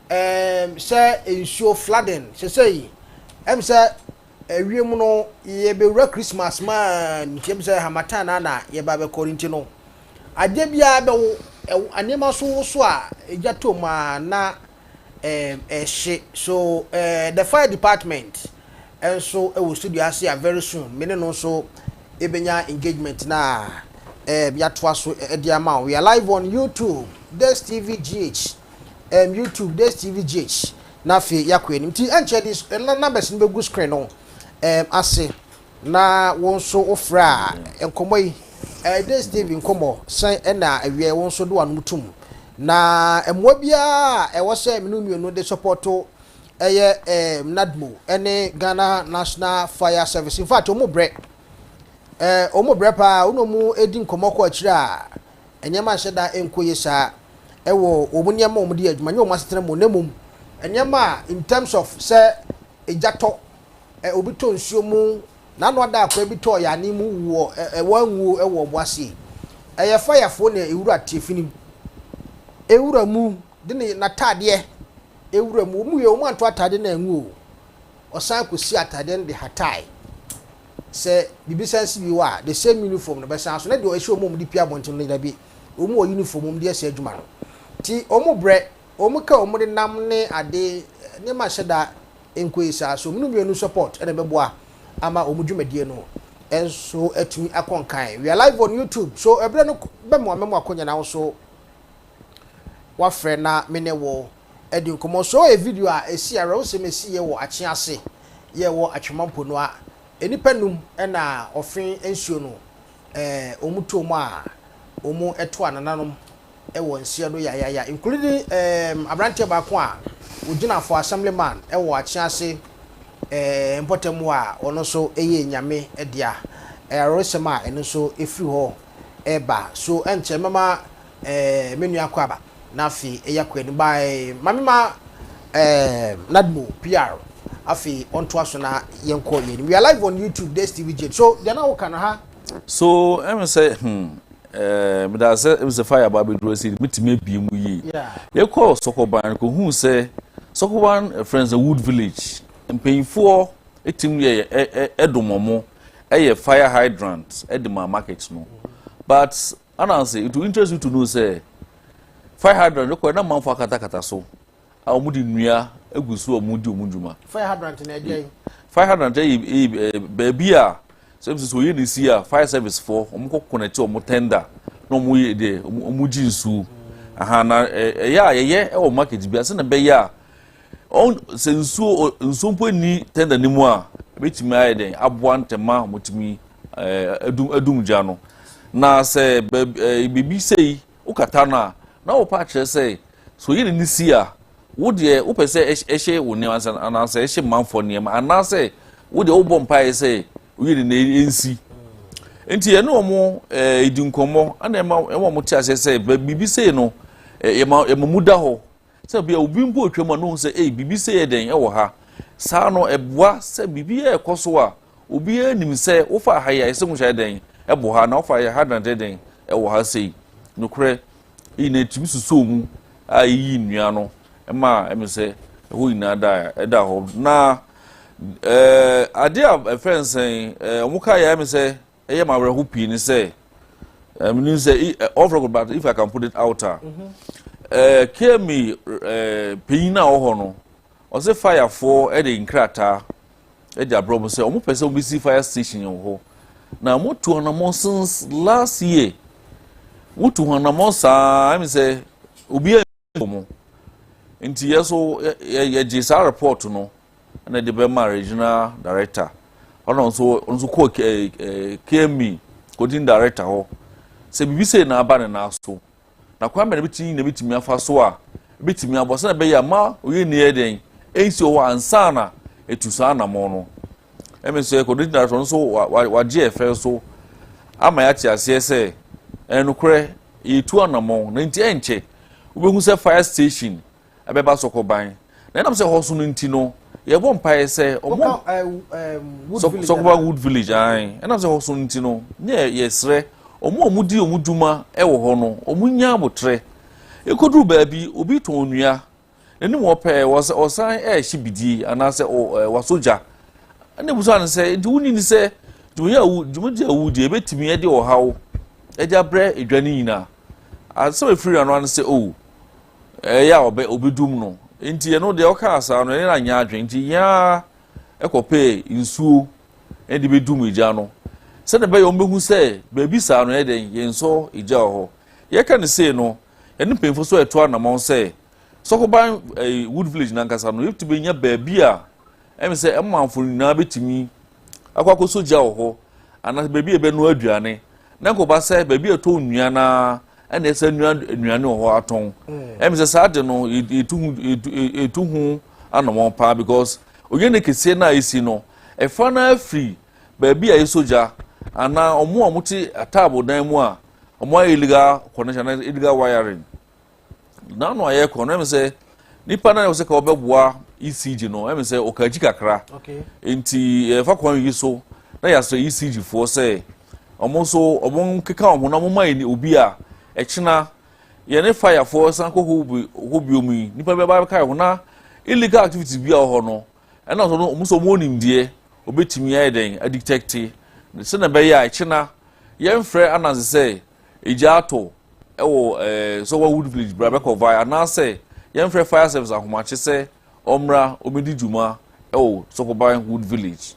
eh, sɛ nsuo flooding sɛsɛ yi ɛm sɛ Awiam no, yebewura Christmas mu a ntem sɛ harmattan na na yɛba bɛkɔ no nti no, adeɛ biara bɛwo. Ɛwo, nneɛma nso woso a egya tɔ mu a na ɛhye. So eh, the fire department nso wɔ studio ase a very soon me ne no nso yɛbɛnya engagement no a eh, yɛatoa so de ama wo. We are live on YouTube, DexTVGH, um, YouTube, DexTVGH. na afei yɛakɔ anim. Nti ɛnkyɛ de na numbers no bɛgu screen no um, ase na wo nso wofrɛ a nkɔmmɔ yi ɛyɛ Days TV nkɔmmɔ sɛn ɛna awiɛ wo nso de w'anom tom na mmoa biara a ɛwɔ sɛ mene mmienu de sɔpɔto ɛyɛ um, NADMO ɛne Ghana National Fire Service in fact ɔmo brɛ uh, ɔmo brɛ paa wona ɔmo ɛdi nkɔmmɔ kɔ akyire a Nneɛma nhyɛ da nkɔ yie saa wɔ wɔn nneɛma a wɔde yɛ adwuma, ɛnyɛ wɔn asetena mu na mmom nneɛma a in terms of sɛ egya tɔ, ɛ, obi tɔ nsuo mu, n'ano ada akwaa bi tɔ yaanee mu wu wɔ ɛ, ɛ, wɔanwuo wɔ ɔbo ase yi. Ɛyɛ fayafoɔ na ewura tiafi no mu. Ewura mu de ne n'ataadeɛ ewura mu. Wɔn yɛ wɔn antɔ ataadeɛ no anwu o, ɔsan kɔsi ataadeɛ no de hatae. sɛ biribi san si bio a, the same uniform no bɛsan so, na deɛ ɛhyɛ wɔn mu de pue abɔnten no deɛ dabi, wɔn wɔ uniform wɔn de ɛsɛ adwuma no. Nti wɔn brɛ, wɔn ka wɔn de nam ne ade, nneɛma nhyɛ da nkɔ yie saa, so wɔn no mmienu support na ɛbɛboa ama wɔn dwumadie no nso atumi akɔ nkan. We are live on YouTube, so ɛberɛ no bɛm a mɛmo akɔnya na wo nso. Wafrɛ na me ne wo adi nkɔmmɔ. Sɔɔ yɛ video a ɛsi awerɛhosɛm ɛsi yɛ wɔ akyea ase yɛ wɔ atwema mpo no a nnipa num na ɔfe nsuo no eh wɔn too mu a wɔn to anananom wɔ nseɛ no yayaya including eh abranteɛ baako a ɔgyina for assembly man wɔ akyea ase eh mpɔtam hɔ a ɔno nso ɛyɛ nyame dea eh awerɛhosɛm a ɛno nso ɛfiri hɔ. ɛɛba so ɛnkyɛ mɛma ɛɛ me nua kɔ aba na afei ɛya kɔ anim by ma me ma ɛɛ nadmo pr afei ɔntoa so na yɛn kɔ yɛn anim we are live on youtube des tv jane so deɛ na woka no ha. So ɛmu sɛ hmm ɛɛ meda ase ɛmu sɛ fire aba abɛduru ase yi metumi abie mu yie yɛkɔ sɔkɔban kɔ hu sɛ sɔkɔban friends wood village mpanyinfoɔ ɛtim yɛ ɛdomɔmo. yɛ fire hydrant de ma market no but anansi it will interest you to know sɛ fire hydrant no kɔ na manfo akatakata so a wɔn de nnua egu so a wɔn di wɔn dwuma. fire hydrant na ɛdeɛ. fire hydrant yɛ yɛ baabi a sɛ sɛ oyi na esi a fire service fo wɔn kɔ connect wɔn tender na wɔn yɛ deɛ wɔn gye nsuo aha na ɛyɛ a yɛyɛ wɔ market bi ase na bɛyɛ a Ɔn, sɛ nsuo, ɔ, nsuo mpo nni tɛnda no mu a, ɛbɛtumi ayɛ dɛn aboa ntɛm ma wɔatumi ɛɛ, adum, adum gya no. Na sɛ baabi, ɛɛ, biribi sei, wokata no a, na wopɛ akyerɛ sɛ, sɛ oyi de no si a, wo deɛ, wopɛ sɛ ɛhy, ɛhye wo nneɛma ansa, anaasɛ ɛhye manfoɔ nneɛma, anaasɛ wo deɛ wobɔ mpaeɛ sɛ oyi de no ɛnsi. Enti yɛne wɔn ɛɛ, di nkɔmmɔ, ɛna ɛma, ɛma wɔte aseɛ sɛ, bɛ, biribi sei no, ɛɛ, yɛma, yɛma mu da hɔ. Sɛ bia obi mpo retwa mu a na ohu sɛ ei biribi sɛ yɛ dɛn ɛwɔ ha. Saa no ɛboa sɛ biribi ɛrekɔ so a obiara nim sɛ wofa ha yi a ɛsɛ muhyɛ dɛn ɛbɔ ha na wofa yɛ ha na ɛdɛ dɛn ɛwɔ ha sei. Nokorɛ yɛ nyinaa ɛtumi susuu mu a ɛyiyii nnua no ma ɛme sɛ ɛhɔ nyinaa da ɛda hɔ. Na ɛɛ adeɛ a ɛfrɛ no sɛn ɛɛ wɔn kaeɛ a ɛme sɛ Ɛyɛ ma awerɛho pii ne sɛ menim sɛ all record but if I can put it out a KME panyin a ɔwɔ hɔ no ɔsɛ fayafoɔ de nkrataa de abrɛ mo sɛ wɔn pɛ sɛ wɔn bɛsi fire station wɔ hɔ na motu anamɔ since last year wotu ho anamɔ saa ɛmi sɛ obiara. mu. Nti yɛ so yɛgye saa report no na de bɛma regional director ɔno nso nso kɔ KME coding director hɔ sɛ biribi sei na aba ne nan so na kwan bɛn na bitumi na bitumi afa so a bitumi abɔ sɛ ɛbɛyɛ ama oyɛ ni yɛ dɛn ɛnsi wɔ ansa na etu saa anamɔ no Ɛmi sɛ kɔdigyina soɔ nso wagye ɛfɛ nso ama yɛate aseɛ sɛ ɛnokorɛ yɛtu anamɔn na nti ɛnkyɛ wobɛhu sɛ fire station ɛbɛba sɔkɔban na ɛnam sɛ hɔ so no nti no yɛbɔ mpaeɛ sɛ ɔmo sɔkɔban wood village an ɛnam sɛ hɔ so no nti no ne yɛsrɛ ɔmo ɔmo di ɔmo dwuma ɛwɔ hɔ no ɔmo nya abotrɛ ɛkɔduru baabi obi tɔn nnua N'anim hɔ pɛɛ, wɔsa, ɔsan ɛrehye bidie anaasɛ ɔ, ɛ, wasɔ gya. Ɛna ebusa no sɛ, Nti wonni ni sɛ dwumadi a wo, dwumadi a wodi ebetumi de ɔhaw de abrɛ edwa no nyinaa? Asɛm a efiri n'ano ano sɛ, O, ɛyɛ a ɔbɛ, obedum no. Nti ɛno deɛ ɔkaa saa no, ɛne no anyɛ adwene. Nti yɛn ara ɛkɔpɛɛ nsuo ɛde bedum egya no. Sɛdeɛ ɛbɛyɛ wɔn behu sɛ baabi saa no yɛ dɛn, yɛnsɔ egya wɔ hɔ. Yɛka no sei no, Yɛne mpanyimfo nso reto anamɔn sɛ Sɔkoban Wood Village no ankasa no, yɛbɛtumi anya baabi a ɛne sɛ ɛmanfo nyinaa bɛtumi akɔ akɔsɔ gya wɔ hɔ anaasɛ baabi a yɛbɛnoa aduane na nkɔba sɛ baabi a ɛtɔ nnuan a ɛna ɛsɛ nnuan nnuane wɔ hɔ atɔn mm. ɛmi sɛ saa de no etu ho etu ho anamɔn paa because onye ne kese na esi no ɛfa na afiri baabi a yɛsɔ gya anaa ɔmo a wɔte ataabo dan mu a Ɔmo ayɛ illegal connection anaa illegal wiring. N'ano ayɛ kɔn no ɛmi sɛ nipa naa ɔsɛ ka ɔbɛboa ECG no ɛmi sɛ ɔka akyi kakra. Nti ɛfa kwan yi so na yasrɛ ECG foɔ sɛ ɔmo nso ɔmo nkeka ɔmo na ɔmo ma yɛ obi a ɛkyina yɛn ne fire foɔ san kɔ hɔ bi hɔ bi omi nipa bi abɛka yɛ ho na illegal activities bi a wɔ hɔ no Ɛna nso no, wɔn nso wɔwɔ nimdeɛ, wɔbɛtumi ayɛ dɛn adetɛkte, sɛnea ɛbɛyɛ a ɛkyena yɛmfrɛ Ananse sɛ egya atɔ wɔ ɛɛ Sɔwa Wood Village bra bɛkɔ vae, anaasɛ yɛmfrɛ Fire Service ahomakye sɛ ɔmmra ɔmmɛdi dwuma wɔ Sɔkɔban Wood Village.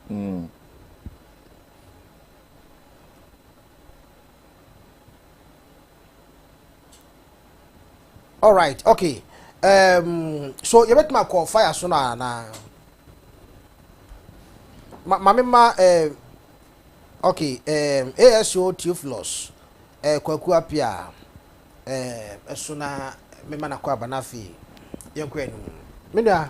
Mm. All right, okay. Um, so you bet my call fire so na na. Ma ma me ma eh okay um ASO Theophilus eh kwaku apia eh so na me ma na kwa banafi. Yɛnkɔ anim. Me nua.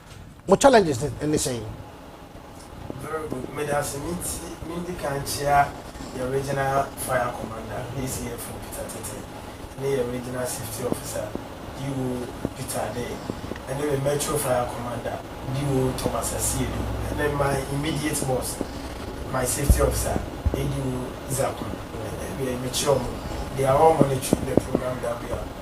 Mo challenges ne ne sɛn? Very good, medase menti mendika nkyea yɛ Regional Fire Commander, HCFO, Peter Tete ne yɛ Regional Safety Officer, DO, Peter Adey ɛne me Metro Fire Commander, DO, Thomas Asiedu ɛne my immediate boss, my Safety Officer, ADO, Isaac Mah. Ɛwiei mekyea ɔmo, they are all monitoring the program that we are.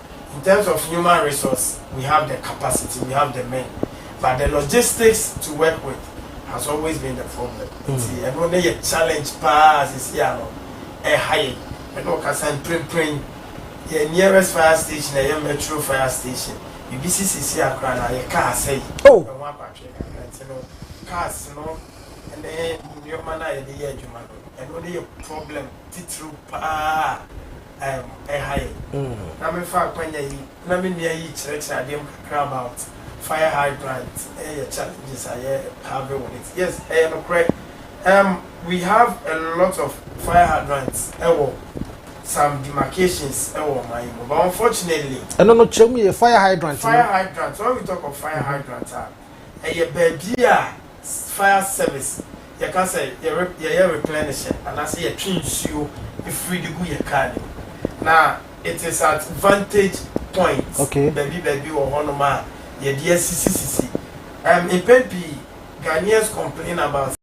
In terms of human resource, we have the capacity, we have the men, but the logistics to work with has always been the problem. Nti ɛno ne yɛ challenge paa sisi a no ɛha yɛ. Ɛna ɔkasa mprempren yɛ nearest fire station ɛyɛ Metro fire station. Biribi si sisi a koraa na yɛ car asɛe. Oh. Ɛho abatwee kakra nti no cars no ne nneɛma no a yɛde yɛ adwuma no ɛno ne yɛ problem titiriw paa. um ɛha yɛn. Na me fa akwanya yi na me nua yi kyerɛkyerɛ adeɛ mu kakra about fire hydrant ɛyɛ challenges a yɛ have with it. Yes ɛyɛ nokorɛ um we have a lot of fire hydrants ɛwɔ some demarcations ɛwɔ ɔman yi mu but unfortunately. Ɛno no kyerɛ mu yɛ fire hydrant no. Fire hydrant when we talk of fire hydrant a ɛyɛ baabi a Fire service yɛka sɛ yɛre yɛyɛ replenisher anaasɛ yɛtwe nsuo firi de gu yɛ car no mu na it is at vantage point Okay. baabi baabi wɔ hɔ nom a yɛde asisi sisi um, mpɛn pii Ghanaians complain about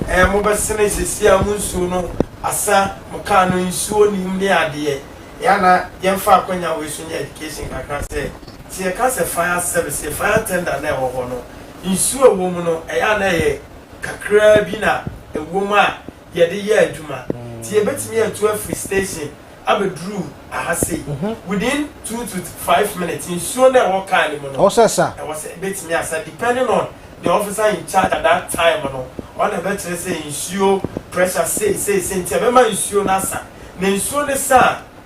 sɛ um, mo bɛsene sisi a mo nsuo no asa mo car no nsuo nim ne adeɛ yɛ ana yɛmfa akwanya wei so nyɛ education kakra sɛ sɛ yɛka sɛ fire service fire tender na ɛwɔ hɔ no nsu a ɛwom no, ɛyɛ a na ɛyɛ kakraa bi na ɛwom a yɛde yɛ adwuma. Nti yɛbɛtumi atu afiri station abɛduru aha sei within two to five minutes. Nsuo no a ɛwɔ car no mu no, ɛwɔ sɛ sa. Ɛwɔ sɛ ɛbɛtumi asa depending on the officer in charge at that time no. Ɔno na ɛbɛkyerɛ sɛ nsuo pressure sei sei sei nti ɛbɛma nsuo no asa. Na nsuo no sa a.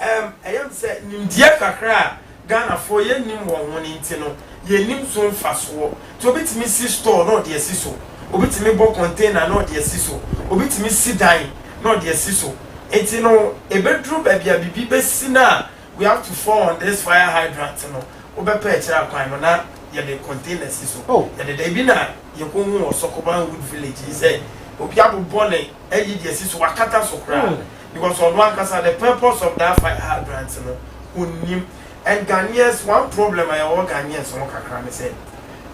Ɛm, ɛyɛ me sɛ nimdeɛ kakra a Ghanafoɔ yɛ nim wɔn ho no nti no, yɛ nim so mfasoɔ. Nti obi tumi si store na ɔde asi so, obi tumi bɔ container na ɔde asi so, obi tumi si dan na ɔde asi so. Nti no, ɛbɛduru baabi a biribi bɛsi no a, we have to fall on this fire hydrant no, wo bɛpɛ akyire akwan no na yɛde container si so. Oh. Yɛde da, ebi na yɛkɔhuu wɔ Sokoban Wood Village yi sɛ obi abobɔ ne ayi de asi so, wakata so koraa. Mm. because ɔno ankasa the purpose of that fire hydrant no ɔnnim and Ghanaians one problem a yɛwɔ Ghanaians ho kakra ne sɛ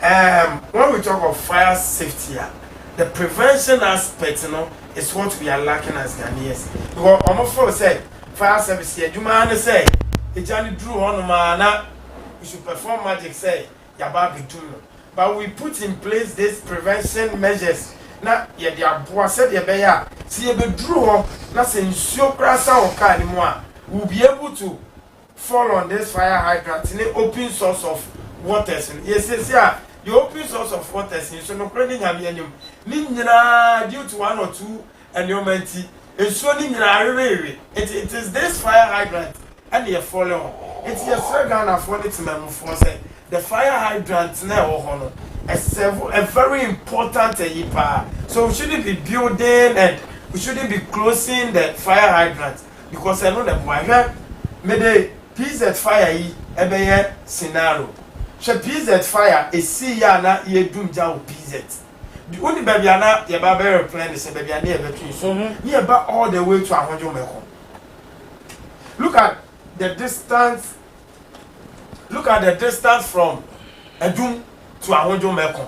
um, when we talk of fire safety a the prevention aspect no is what we are lacking as Ghanaians because wɔn feel sɛ fire service yɛ adwuma ne sɛ egya no duru hɔnom a na you should perform magic sɛ yɛaba abɛtu no. But we put in place this prevention measures na yɛde aboa sɛdeɛ ɛbɛyɛ a sɛ yɛbɛduru hɔ na sɛ nsuo koraa sa wɔ kaa no mu a, we will be able to fall on this fire hydrant ne open source of waters no. Yɛsiesie a yɛ open source of waters yi nso nokorɛ ne Nyame anim ne nyinaa due to one or two nneɛma nti, nsuo no nyinaa weweewe. Nti it is this fire hydrant ɛna yɛ fɔle hɔ. Nti yɛsrɛ Ghanafoɔ ne Temanmufoɔ sɛ the fire hydrant no a ɛwɔ hɔ no, ɛ serve a very important ayi paa. So we shouldn't be building and we shouldn't be closing the fire hydrant because ɛno na ɛboa. Hwɛ, mede PZ fire yi ɛbɛyɛ scenario. Hwɛ PZ fire, ɛsiiɛ a na yɛredum gya wɔ PZ. Di wo ni baabi a na yɛ ba bɛ replan ne sɛ baabi a ne yɛ bɛ to yi so ne yɛ ba all the way to Ahwodwo mɛ kɔ look at the distance look at the distance from Adum to Ahwodwo mɛ kɔ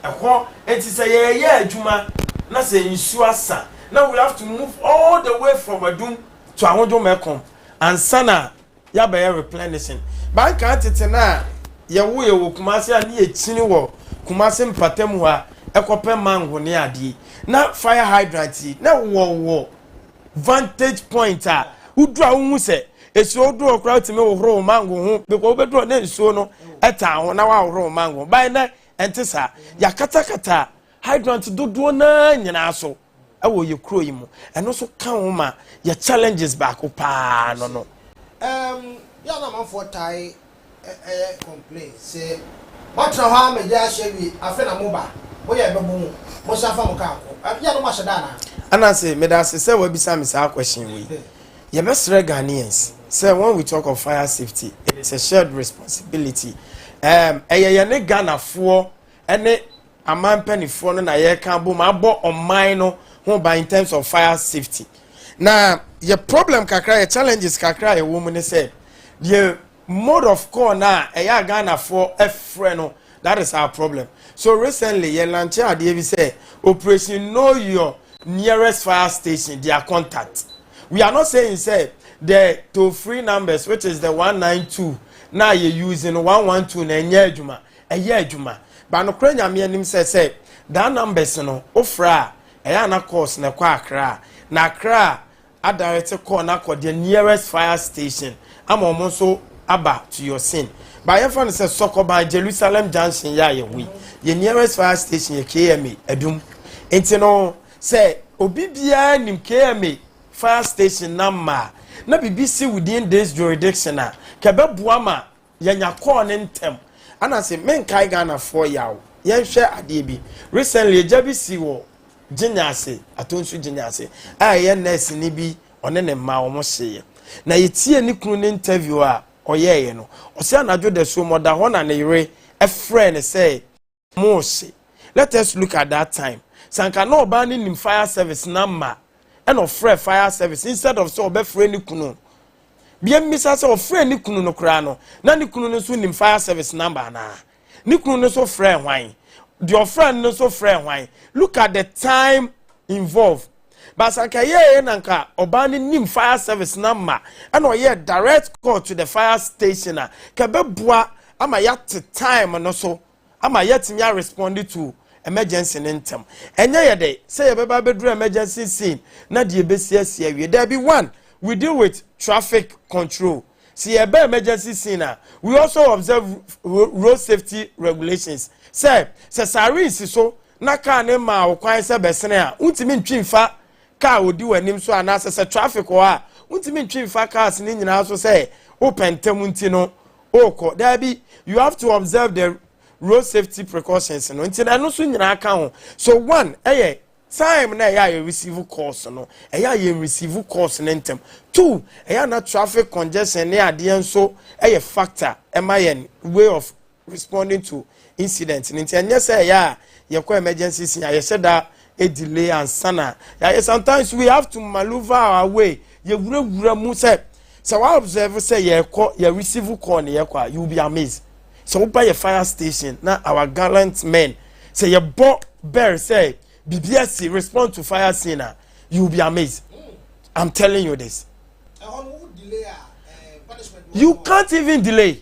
ɛhɔ eti sɛ yɛ yɛ adwuma na sɛ nsuo asa na we have to move all the way from Adum to Ahwodwo mɛ kɔ ansa na yɛabɛyɛ replenishing. Ba nkaa tete no a yɛwo yɛ wɔ Kumasi a ne yɛkyini wɔ Kumasi mpatamu hɔ a ɛkɔ pɛ mango ne adeɛ yi. Na fire hydrant yi na wɔ wɔ vantage point a wodu a wohu sɛ ɛsuo wodu hɔ koraa wotumi hohoro wo mango ho because wobɛdu hɔ na nsuo no ɛtaa ho na woahohoro wo mango ho. Ba ɛnɛ ɛnte saa. Yɛakatakata hydrant dodoɔ no ara nyinaa so. ɛwɔ yɛ kuro yi mu ɛno nso ka ho ma yɛ challenges baako paa no no. Um, yɛ na amanfoɔ tae ɛyɛ complain sɛ moatena hɔ ara ma yɛ ahyɛ wie afei na moba moyɛ bɛbɔ mu mosan fa mo kaa kɔ yɛ no moahyɛ da anaa. Ananse meda ase sɛ wabisa me saa question wei yɛbɛsrɛ Ghanaians sɛ when we talk of fire safety it is a shared responsibility um, ɛyɛ yɛne Ghanafoɔ ne aman mpanimfoɔ no na yɛreka abom abɔ ɔman no ho ban in terms of fire safety na yɛ problem kakra yɛ challenges kakra a ɛwɔ mu ne sɛ deɛ mode of call no a ɛyɛ a ghanafoɔ frɛ no that is our problem so recently yɛ lanche adeɛ bi sɛ operation know your nearest fire station their contact we are not saying sɛ the toll free numbers which is the 192 na yɛ using 112 na ɛnyɛ adwuma ɛyɛ adwuma ba nokorɛ nyame anim sɛ sɛ daa numbers no wofrɛ a ɛyɛ ana calls na ɛkɔ akra a na akra a adarete call na akɔ the nearest fire station ama wɔn nso aba to your scene ba yɛmfa no sɛ sɔkɔban jerusalem junction yɛ a yɛho yi yɛ nearest fire station yɛ kma adum nti no sɛ obi biara nim kma fire station na mmaa na bibi si within this jurisdiction a kɛbɛboa ma Yɛnya kɔɔ ne ntɛm. Ana se menkae Ghana foɔ yaw. Yɛnhwɛ adeɛ bi. Recently egya bi si wɔ Gyinya ase, Atonsu Gyinya ase, a ɛyɛ nurse ni bi ɔne ne mma wɔn hyeeɛ. Na yɛtiee ne kunu ne interview a ɔyɛɛeɛ no, ɔse anadwo dasuom ɔda hɔ na ne yere frɛɛ no sɛ, Mose. Let us look at that time. Sɛ anka na ɔbaa no nim fire service na mma ɛna ɔfrɛ fire service instead of sɛ ɔbɛfrɛ ne kunu. Bia mmisa sɛ ɔfrɛ ne kunu no koraa no na ne kunu no nso nim fire service number anaa? Ne kunu no nso frɛ hwan? Deɛ ɔfrɛ no nso frɛ hwan? Look at the time involved. But sɛ anka ɛyɛɛyɛ na anka ɔbaa no nim fire service no ama ɛna ɔyɛɛ direct call to the fire station a ka ɛbɛboa ama yɛate time no so ama yɛatumi a respond to emergency no ntɛm ɛnyɛ yɛ dɛ sɛ yɛbɛba abɛduru emergency scene na deɛ ɛbɛsi asi awie daabi one we deal with traffic control Sɛ yɛreba emergency scene a, we also observe road safety regulations sɛ, sɛ siren si so na kaa no mmaa wo kwan sɛ bɛsene a, wontumi ntwi mfa kaa a ɔdi w'anim so anaasɛ sɛ traffic wɔ hɔ a, wontumi ntwi mfa cars no nyinaa so sɛ wopɛ ntɛm nti no wokɔ. Daabi, you have to observe the road safety precautions no nti no ɛno nso nyinaa ka ho. So one yɛ Time na ɛyɛ a yɛ receive calls no, ɛyɛ a yɛn receive calls no ntɛm. Two, ɛyɛ a na traffic congestion ne adeɛ nso yɛ factor ma yɛn way of responding to incident no. Nti ɛnyɛ sɛ ɛyɛ a yɛkɔ emergency scene a yɛhyɛ da delay ansa na yɛayɛ. Sometimes we have to maneuver our way, yɛwurawura mu sɛ, sɛ wa observe sɛ yɛrekɔ, yɛ receive call na yɛkɔ a, you will be amazed. sɛ woba yɛ fire station na our gallant men sɛ yɛbɔ bɛr sɛ biribi asi respond to fire scene a you will be amazed i'm telling you this you can't even delay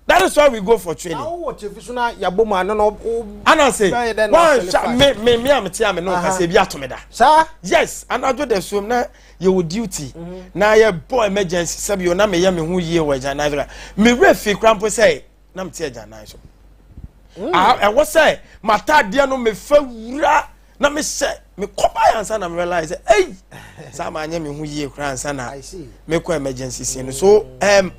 that is why we go for training. awo wɔ kyefi so na yabɔ mu ano na o. ana se wan hwɛ me me me a me te a me no nkasa ebi ato me da. saa. yes anadwo da suom na yɛwɔ duty na yɛbɔ emergency sɛbi yɛ na meyɛ me ho yie wɔ agyanan so la mewerɛ fii kora mpo sɛ na mete agyanan so mm. ah, ɛwɔ sɛ mataadeɛ no mefa wura na mehyɛ mekɔba yɛ ansa na merealise sɛ ei saa maanyɛ me ho yie kora ansa na mekɔ emergency scene no so um,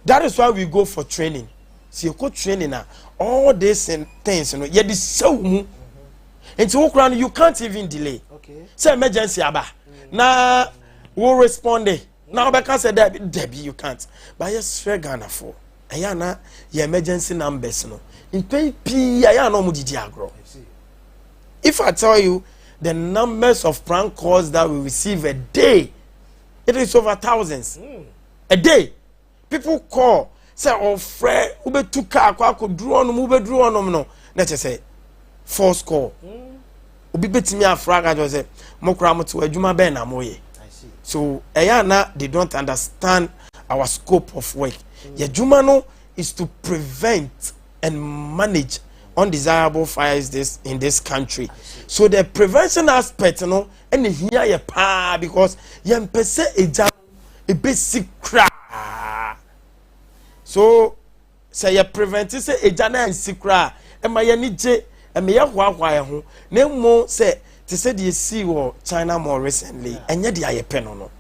that is why we go for training sɛ yɛkɔ training a all these things no yɛde sɛw mu nti wo koraa no you can't even delay sɛ emergency aba mm. na wo responde na wobɛka sɛ dabi dabi you can't but yɛsrɛ ghanafoɔ ɛyɛ ana yɛ emergency numbers no mpɛn pii a yɛ ana ɔmo didi agorɔ if i tell you the numbers of prank calls that we receive a day it is over thousands mm. a day. people call sɛ ɔfrɛ wobɛtu kaa kɔ akɔduru ɔnom wobɛduru ɔnom no na kyɛ sɛ force call obi bɛtumi afra aka kyerɛ sɛ mokora mo tew adwuma bɛn na moyɛ so ɛyɛ ana they don't understand our scope of work yɛadwuma no is to prevent and manage undesirable fires this in this country so the prevention aspect no ɛna hia yɛ paa because yɛmpɛ sɛ ɛgya ebesi koraa so sɛ yɛ prevent sɛ egya na nsi koraa ɛma yɛ ni gye ɛma yɛ hoahoa yɛ ho na emu sɛ te sɛ deɛ esi wɔ china more recently ɛnyɛ deɛ ayɛ pɛ no no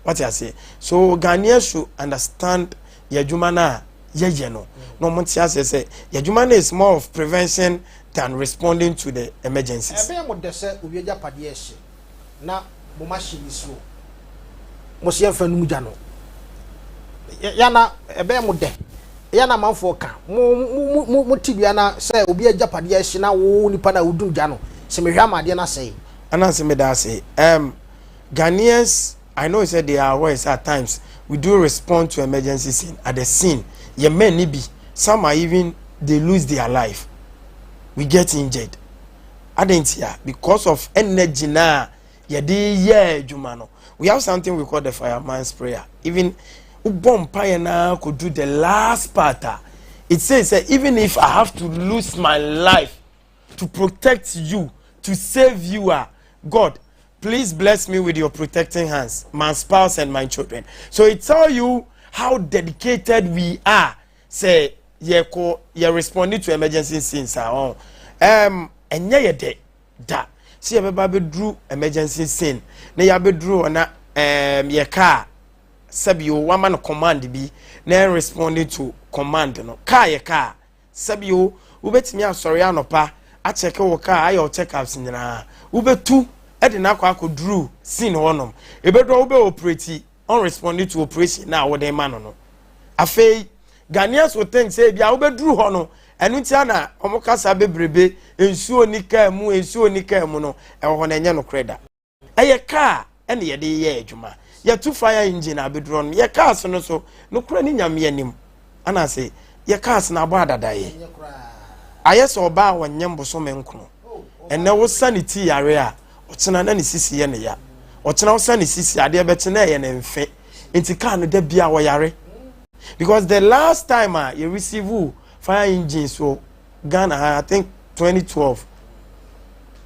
wate aseɛ so ghanaian should understand yɛ adwuma no a yɛyɛ no na wɔn ti aseɛ sɛ yɛ adwuma no is more of prevention than responding to the emergencies. ɛbɛn mo dɛ sɛ owie agyapadeɛ ɛhye. na mom ahye nisuo. Mo se yɛmfa num gya no. Yana ɛbɛyɛ mo dɛ. Yana amanfoɔ ka mo mo mo mo tibea na sɛ obi agyapadeɛ ahye na wo nipa na wodum gya no sɛ mehwɛ ama adeɛ no asɛe. Ananse meda ase. Um, Ghanaians, I know sɛ they are aware sɛ at times we do respond to emergency scene at the scene. Yɛ men ni bi, some are even they lose their life, we get injured. adɛn ntia because of energy no a yɛde yɛ adwuma no we have something we call the fireman's prayer even wobɔ mpaeɛ no ara kɔdu the last part a it says that even if i have to lose my life to protect you to save you a god please bless me with your protecting hands my spouse and my children so it tell you how dedicated we are sɛ yɛkɔ yɛ responding to emergency scenes a ɔn ɛm ɛnyɛ yɛ dɛ da sɛ yɛbɛba abɛduru emergency scene na yɛabɛduru hɔ na ɛm yɛ kaa sɛbi o wama no command bi na ɛn responding to command no kaa yɛ kaa sɛbi o wobɛtumi asɔre anɔpa akyɛke wo kaa ayɛ wo check ups nyinaa wobɛtu ɛde no akɔ akɔduru scene hɔnom ɛbɛduru a wobɛ operate ɔn respond to operation na a wode ma no no afei Ghanaians will think sɛ ebi a wobɛduru hɔ no ɛno nti na wɔn kasa bebrebe nsuo ni kaa mu nsuo ni kaa mu no ɛwɔ hɔ na ɛnyɛ nokorɛ da ɛyɛ kaa ɛna yɛde yɛ adwuma yɛtu fire engine abɛduru no yɛ cars no so nokorɛ ne nyameɛ nim anaasɛ yɛka asena abɔ adadaeɛ ayɛ sɛ ɔbaa a ɔnyɛ mbosome nkono ɛnɛ wosa ne ti yare a ɔkyena na ne sisi yɛ ne ya ɔkyena wosa ne sisi adeɛ bɛkye na ɛyɛ ne mfe nti kaa no da bi a ɔyare because the last time a yɛ receive fire engine so ghana ha i think 2012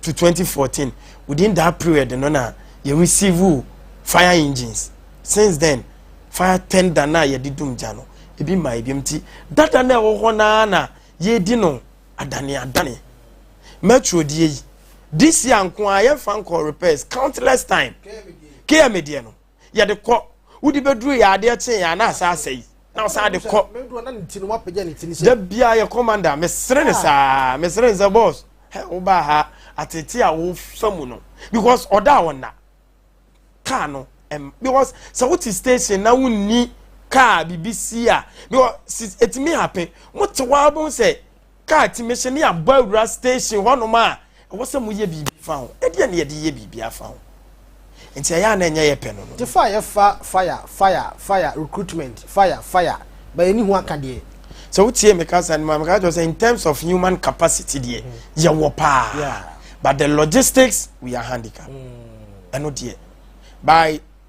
to 2014 within that period no na yɛ receive fire engines since then fire tender na yɛde dum gya no ebi ma ebi nti dada na ɛwɔ hɔ naa na yɛdi no adane adane metro die yi this year nko a yɛmfa nkɔ repairs countless time km deɛ no yɛde kɔ wode bɛduru yɛ adeɛ kye yɛ ana asa asɛ yi na ɔsan de kɔ da biaa yɛ kɔmanda mesere ne saa mesere ne sɛ bɔs wobaa ha atete a wofa mu no because ɔda a ɔnna kaa no because sɛ wote station na wonni kaa biribi si a because ɛtumi happen mote waa bɛhu sɛ Kaa ti me hyɛ ne abɔ awura station hɔnom a ɛwɔ sɛ moyɛ biribi fa ho. Ɛdeɛ ne yɛde yɛ biribi afa ho. Nti ɛyɛ a na ɛnyɛ yɛpɛ no no. Tefa a yɛfa fire fire fire recruitment fire fire ba yɛnni ho aka deɛ. Sɛ wotiee me kasa no mu a, meka kyerɛ wo sɛ in terms of human capacity deɛ yɛwɔ paa. Yeah. But the logistics we are handicapped. Ɛno deɛ by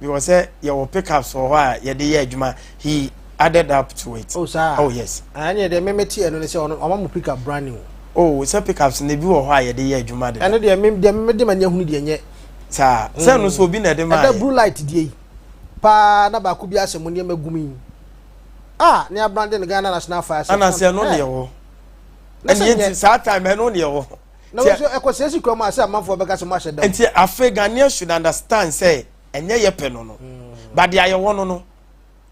because sɛ yɛwɔ pickups wɔ hɔ a yɛde yɛ adwuma he added up to it oh saa oh yes ɛne deɛ meme te ɛno ne sɛ ɔno ɔma mu pickup brand new oh sɛ pickups no bi wɔ hɔ a yɛde yɛ adwuma de ɛno deɛ meme deɛ meme de ma ne ahunu deɛ nyɛ saa sɛ no so obi na ɛde ma ɛda blue light deɛ yi paa na baako bi asɛ mo nneɛma gum yi ah ne abrande no Ghana National Fire Service anasɛ ɛno deɛ wɔ ɛne yɛnti saa time ɛno deɛ wɔ na wo nso ɛkɔ sɛ si kura mu a sɛ amanfoɔ bɛka sɛ mo ahyɛ dɛm. nti afei ghanaian should understand sɛ ɛnyɛ yɛ pɛ no no mm. but deɛ ayɛwɔ no no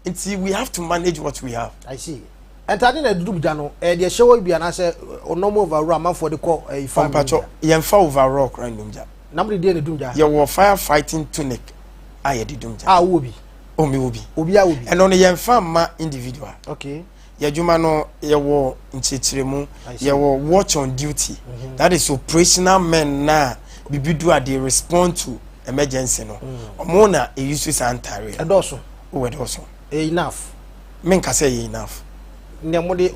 nti we have to manage what we have. i see ntaade na ɛdudu gya no ɛyɛ deɛ ɛhyɛ hɔ bi anaasɛ ɔnɔm overall amanfoɔ de kɔ ɛyi fa mpatsɔ yɛnfa overall kora nnum gya. na mo de deɛ na edum gya. yɛwɔ fire fighting tunic a yɛde dum gya. a wowɔ bi. omi wɔ bi. obi a wɔ bi. ɛno no yɛnfa mma individual. okay. Yɛadwuma no yɛwɔ nkyerɛkyerɛmu yɛwɔ watch on duty mhm. that is operational men na bibi do a they respond to emergency no ɔmo mm. na eyi so saa ntaare ɛdɔɔso o ɛdɔɔso ɛyɛ enough menka sɛ ɛyɛ enough nea mo de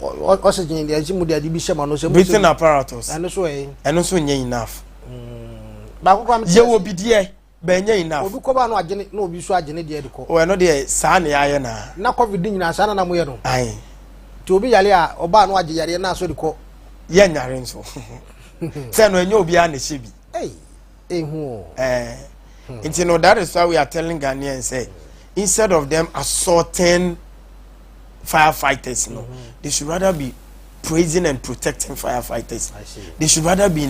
oxygen de ɛsi mo de ade bi hyɛ ma no sɛ mo breathing apparatus ɛno so ɛyɛ ɛno so nyɛ enough mm. baako kora mo yɛwɔ bideɛ bɛnyɛ enough. Obi kɔba no agye ne na obi nso agye ne deɛ de kɔ. O ɛno deɛ saa ne yɛayɛ na. Na covid de nyinaa saa na na moyɛ no. Ae. Nti obi yare a ɔbaa no agye yareɛ na asɔ de kɔ. Yɛ nyare nso. Sɛ no ɛnyɛ obiara na ɛhyɛ bi. Ei, ehu o. Ɛɛ. Hmm. Nti no that is why we are telling Ghanaians say instead of them assaulting firefighters no, mm -hmm. they should rather be praising and protecting firefighters. They should rather be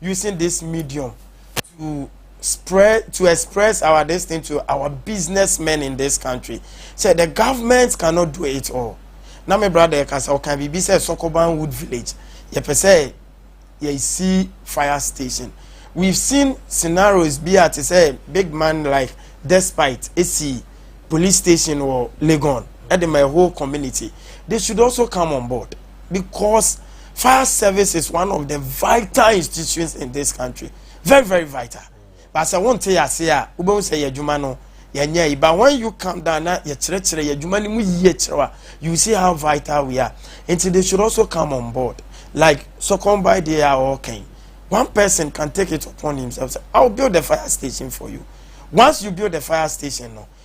using this medium to spread to express our this thing to our businessmen in this country say the government cannot do it all na me brother yɛ kasa ɔka biribi sɛ sokoban wood village yɛpɛ sɛ yɛsi fire station we've seen scenarios bi a te sɛ big man like despite esi police station wɔ legon ɛde ma a whole community they should also come on board. because fire service is one of the vital institutions in this country very very vital but sɛ wɔn te yase a wobɛhu sɛ yɛ adwuma no yɛnyɛ yi but when you come down na yɛkyerɛkyerɛ yɛ adwuma no mu yie kyerɛw a you see how vital we are nti they should also come on board like sokɔn by the a ɔɔkɛn one person can take it upon himself say i will build a fire station for you once you build a fire station no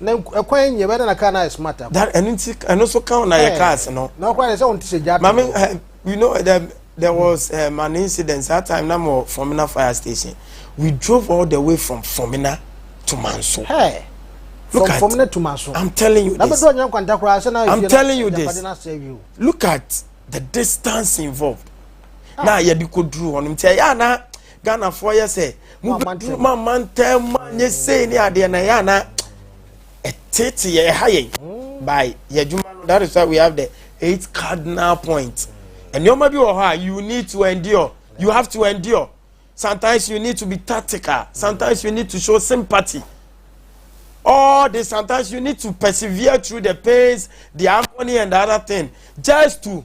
Na ɛkwan nyɛ bɛ na na car na ayɛ smart akɔ. That ɛno nti ɛno nso ka na yɛ cars no. Na ɔkora yɛ sɛ wɔn ti sɛ gya. Maame eh, you know eh, there, there was um, an incident that time na mo Fomina fire station. We drove all the way from Fomina to Manso. Hey. Look from at, Fomina to Manso. I'm telling you this. I'm telling you this. Look at the distance involved. Ah. Na yɛ de ko duru hɔ nom nti ɛyɛ ana. Ghanafoɔ yɛ sɛ mo bɛduru ma mantam mu anyɛ sei ne adeɛ na yɛ ana ɛtete yɛ ɛha yɛn mm. by yɛ adwuma no that is why we have the eight cardinal points nneɛma bi wɔ hɔ a you need to endure you have to endure sometimes you need to be tactical sometimes you need to show sympathy all this sometimes you need to persevere through the pains the agony and the other thing just to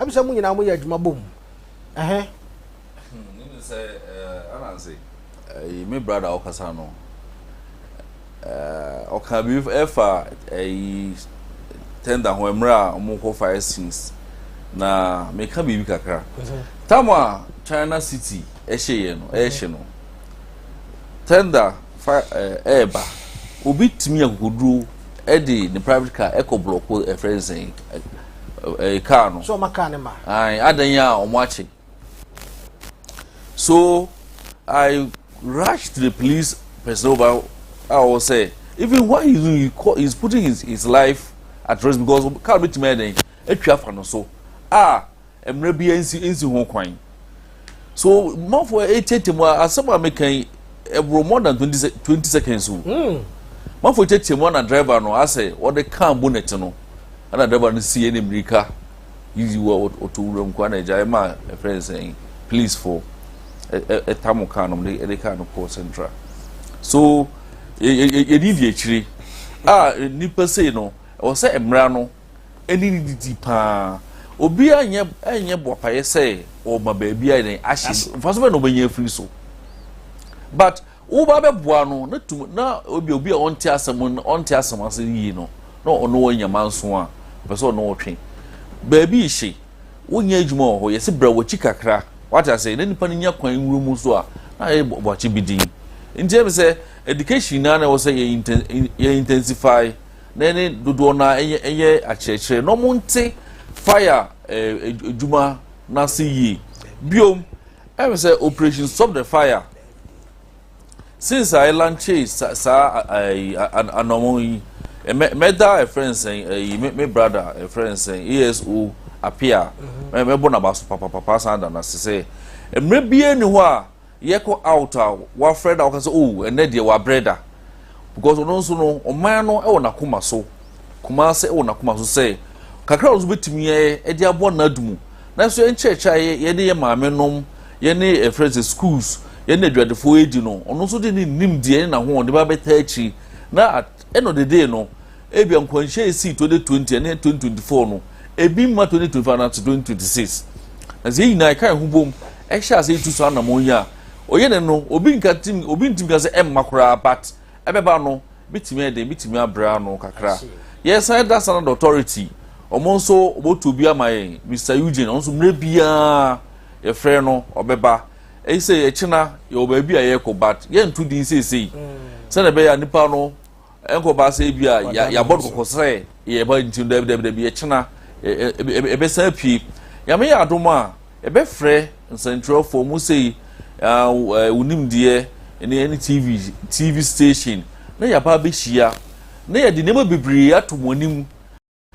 Ɛm sɛ mo nyinaa mo yɛ adwuma bom ɛhɛ. Nim sɛ eh, ananse eh, me brada ɔkasa no eh, ɔka bi ɛfa eh, tender ho mmerɛ a ɔmo kɔ fire scenes na meka biribi kakra tam a China City ɛhyɛ yɛ no ɛhyɛ no tender fire eh, ɛɛba obi tumi akokoduro ɛde ne private car ɛkɔ blɔko ɛfrɛ nsɛn ɛɛ eh, kaa no. so ɔma kaa ne ma. ayi adan yi a wɔn akye so i rush to the police person over a ɔwɔ sɛ even why he he call he is putting his his life at risk because car bi tuma yɛ dɛn atwa afa no so a mmerɛ bi nsi nsi ho kwan. so mafo ɛkyɛkyɛ mu asɛm a meka yi ɛboro more than twenty twenty seconds o hmm. mafo ɛkyɛkyɛ mu ana driver no asɛ ɔde kaa bonnet no ana driver no si ɛne mmirika yiyi wɔ ɔto wuram kɔ ana ɛgya ɛma ɛfrɛ nsɛn police fo ɛta mo kaa no de ɛde kaa no kɔ central so yɛde di akyire a nipa sei no ɛwɔ sɛ mmara no. Ɛne ne didi paa. Obiara nyɛ ɛnyɛ boapayɛ sɛ ɔma baabi ayɛ dɛn ahye no. Mfaso bɛn na ɔbɛnya afiri so? But woba bɛboa no na tum na obi obi a ɔnte asɛm ɔnte asɛm ase yie no na ɔno wɔ nyama nso a ɔpɛ sɛ ɔno ɔtwe baabi hye wonyɛ adwuma wɔ hɔ yɛse brɛ wɔakyi kakra wate ase na nipa no nya kwan nwura mu nso a na ayɛ bɔakye bi din nti ɛmi sɛ education naa na ɛwɔ sɛ yɛ intensify na ne dodoɔ no ara yɛ yɛ akyerɛkyerɛ na wɔnte fire ɛɛ eh, adwuma n'ase yie biom ɛmu sɛ operation stop the fire since a ɛlanche saa ɛɛ anamɔ yi mɛ mɛda ɛfrɛ nsɛn ɛyi me me brada ɛfrɛ nsɛn ASO apia mɛ mɛbɔ n'aba so papapapa san da n'ase sɛ mmerɛ bie ni hɔ a. Yɛkɔ out a wafrɛ no a woka sɛ oh ɛnɛ deɛ wabrɛ da because ɔno nso no ɔman no wɔ n'akoma so Kumase wɔ n'akoma so sɛ kakra a ɔno nso bɛtumi ayɛ de aboa n'ado mu na nso yɛn nkyerɛkyerɛ a yɛne yɛn maame nom yɛne ɛfrɛ sɛ schools yɛne adwadefoɔ yɛdi no ɔno nso de ne nimdeɛ ne n'ahoɔden ba bɛtaa akyiri na Ɛnɔ dede no, ebia nkwanhyia a esii 2020 ne 2024 no, ebi mma 2025 anaasɛ 2026. Nanso yɛn nyinaa yɛka yɛn ho bom hyɛ ase retu saa anammɔn yi a, ɔyɛ dɛn no, obi nka tim, obi ntim ka sɛ ɛmma koraa, but ɛbɛba no, ebetumi ayɛ dɛn, ebetumi abrɛ ano kakra. Yɛsan yɛda Standard Authority, wɔn nso wɔtu obi ama yɛn, Mister Eugene, ɔno nso mmerɛ biara yɛfrɛ no, ɔbɛba. Ɛyi sɛ yɛkyena yɛwɔ baabi a yɛkɔ but yɛnto din seesei mm. sɛdeɛ ɛbɛyɛ a nipa no nkɔba sɛ bi a yɛabɔ no kɔkɔ sɛ yɛba nti no dabidabidabi yɛkyena ɛbɛsan apue nyame yɛ adom a ɛbɛfrɛ nsɛntwerɛfoɔ mu sei wonim deɛ ne ɛne tv tv station na yɛaba abɛhyia na yɛde nneɛma bebree ato mo anim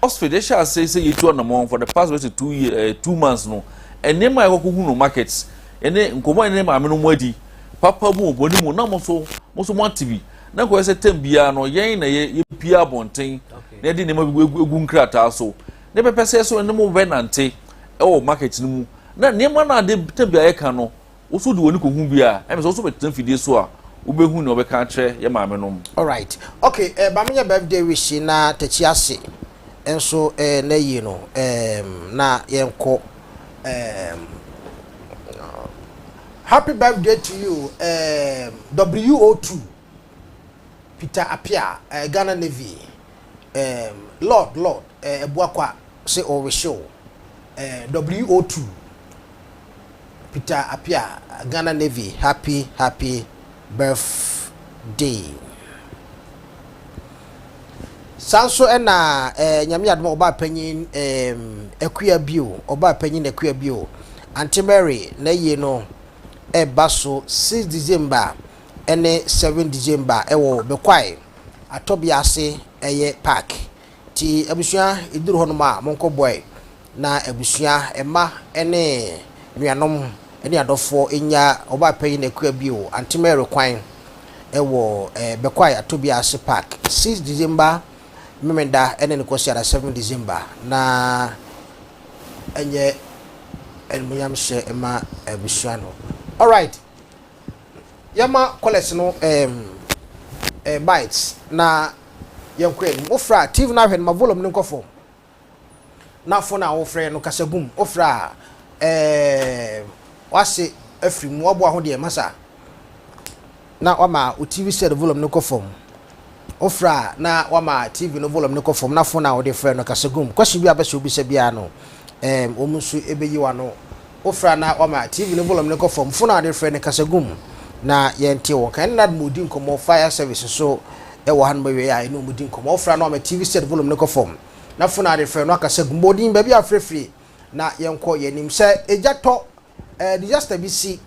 Oxford ɛhyɛ ase sɛ yɛtu anamɔn for the past bɛsɛ two year ɛɛ eh, two months no nneɛma a ɛkɔkɔ hu no market ɛne nkɔmɔ ɛne maame no mo adi papa mu ɔbɔ ne mu na mo so mo so mo ate bi na nkɔyɛ sɛ tɛm biara no yɛn na yɛ yɛpia abɔnten na yɛde nneɛma bi egu egu nkrataa so ne pɛpɛ sɛ so ɛne mo bɛ nante ɛwɔ market no mu na nneɛma no ade tɛm biara yɛka no Woso de w'ani kohu bi a, ɛne sɛ woso bɛtena fidie so a wobɛhu nea wɔbɛka akyerɛ yɛ maame nom. Alright ok eh ba menyɛ birthday wish na takyi ase nso eh na yie no ehm na yɛnkɔ ehm oh happy birthday to you ehm WO2 Peter Appiah eh Ghana Navy ehm Lord Lord eh Abuakwa Se ɔrehyew eh WO two Peter Appiah Ghana Navy happy happy birthday Saa nso na eh Nyame adom a ɔbaa panyin eh Akua bio ɔbaa panyin Akua bio Aunty Mary n'ayie no reba so six December ne seven December wɔ Bekwae atɔbea ase ɛyɛ park Nti abusua, ɛduru hɔnom a, monkɔboae na abusua, mma ne nuanom ne adɔfoɔ nnya Ɔbaapanyin Akua bio, Aunty Mary kwan wɔ Bekwai Atobea ase Park, six December Memenda ne ne Kwasiada, seven December, na ɛnyɛ animuonyamhyɛ mma abusua no. Alright, yɛma callers no bites na Yɛn kɔ anim. Wofrɛ a, TV no ahwɛ no ma volume no nkɔ fam. Na phone a wofrɛ no kasa gu mu. Wofrɛ a, ɛɛm, w'ase afiri mu. W'aboa ho deɛ, masa. Na wama wo TV set volume no kɔ fam. Wofrɛ a, na wama TV no volume no kɔ fam. Na phone a wode frɛ no kasa gu mu. Question bi a wobɛ sɛ wobisa biara no, ɛɛm, wɔn nso bɛyi w'ano. Wofra na wama TV no volume no kɔ fam, fon a wɔde refrɛ no kasa gu mu na yɛnte wo nka. Ɛnna na wɔredi nkɔmmɔ fire service so wɔ hanom awiei a yɛne wɔn redi nkɔmmɔ. Wofra na wama TV set volume no kɔ fam, na fon a wɔde refrɛ no akasa gu mu. Bɔ din, baabi a wofrɛ firi, na yɛnkɔ yɛn anim. Sɛ egya tɔ, disaster bi si,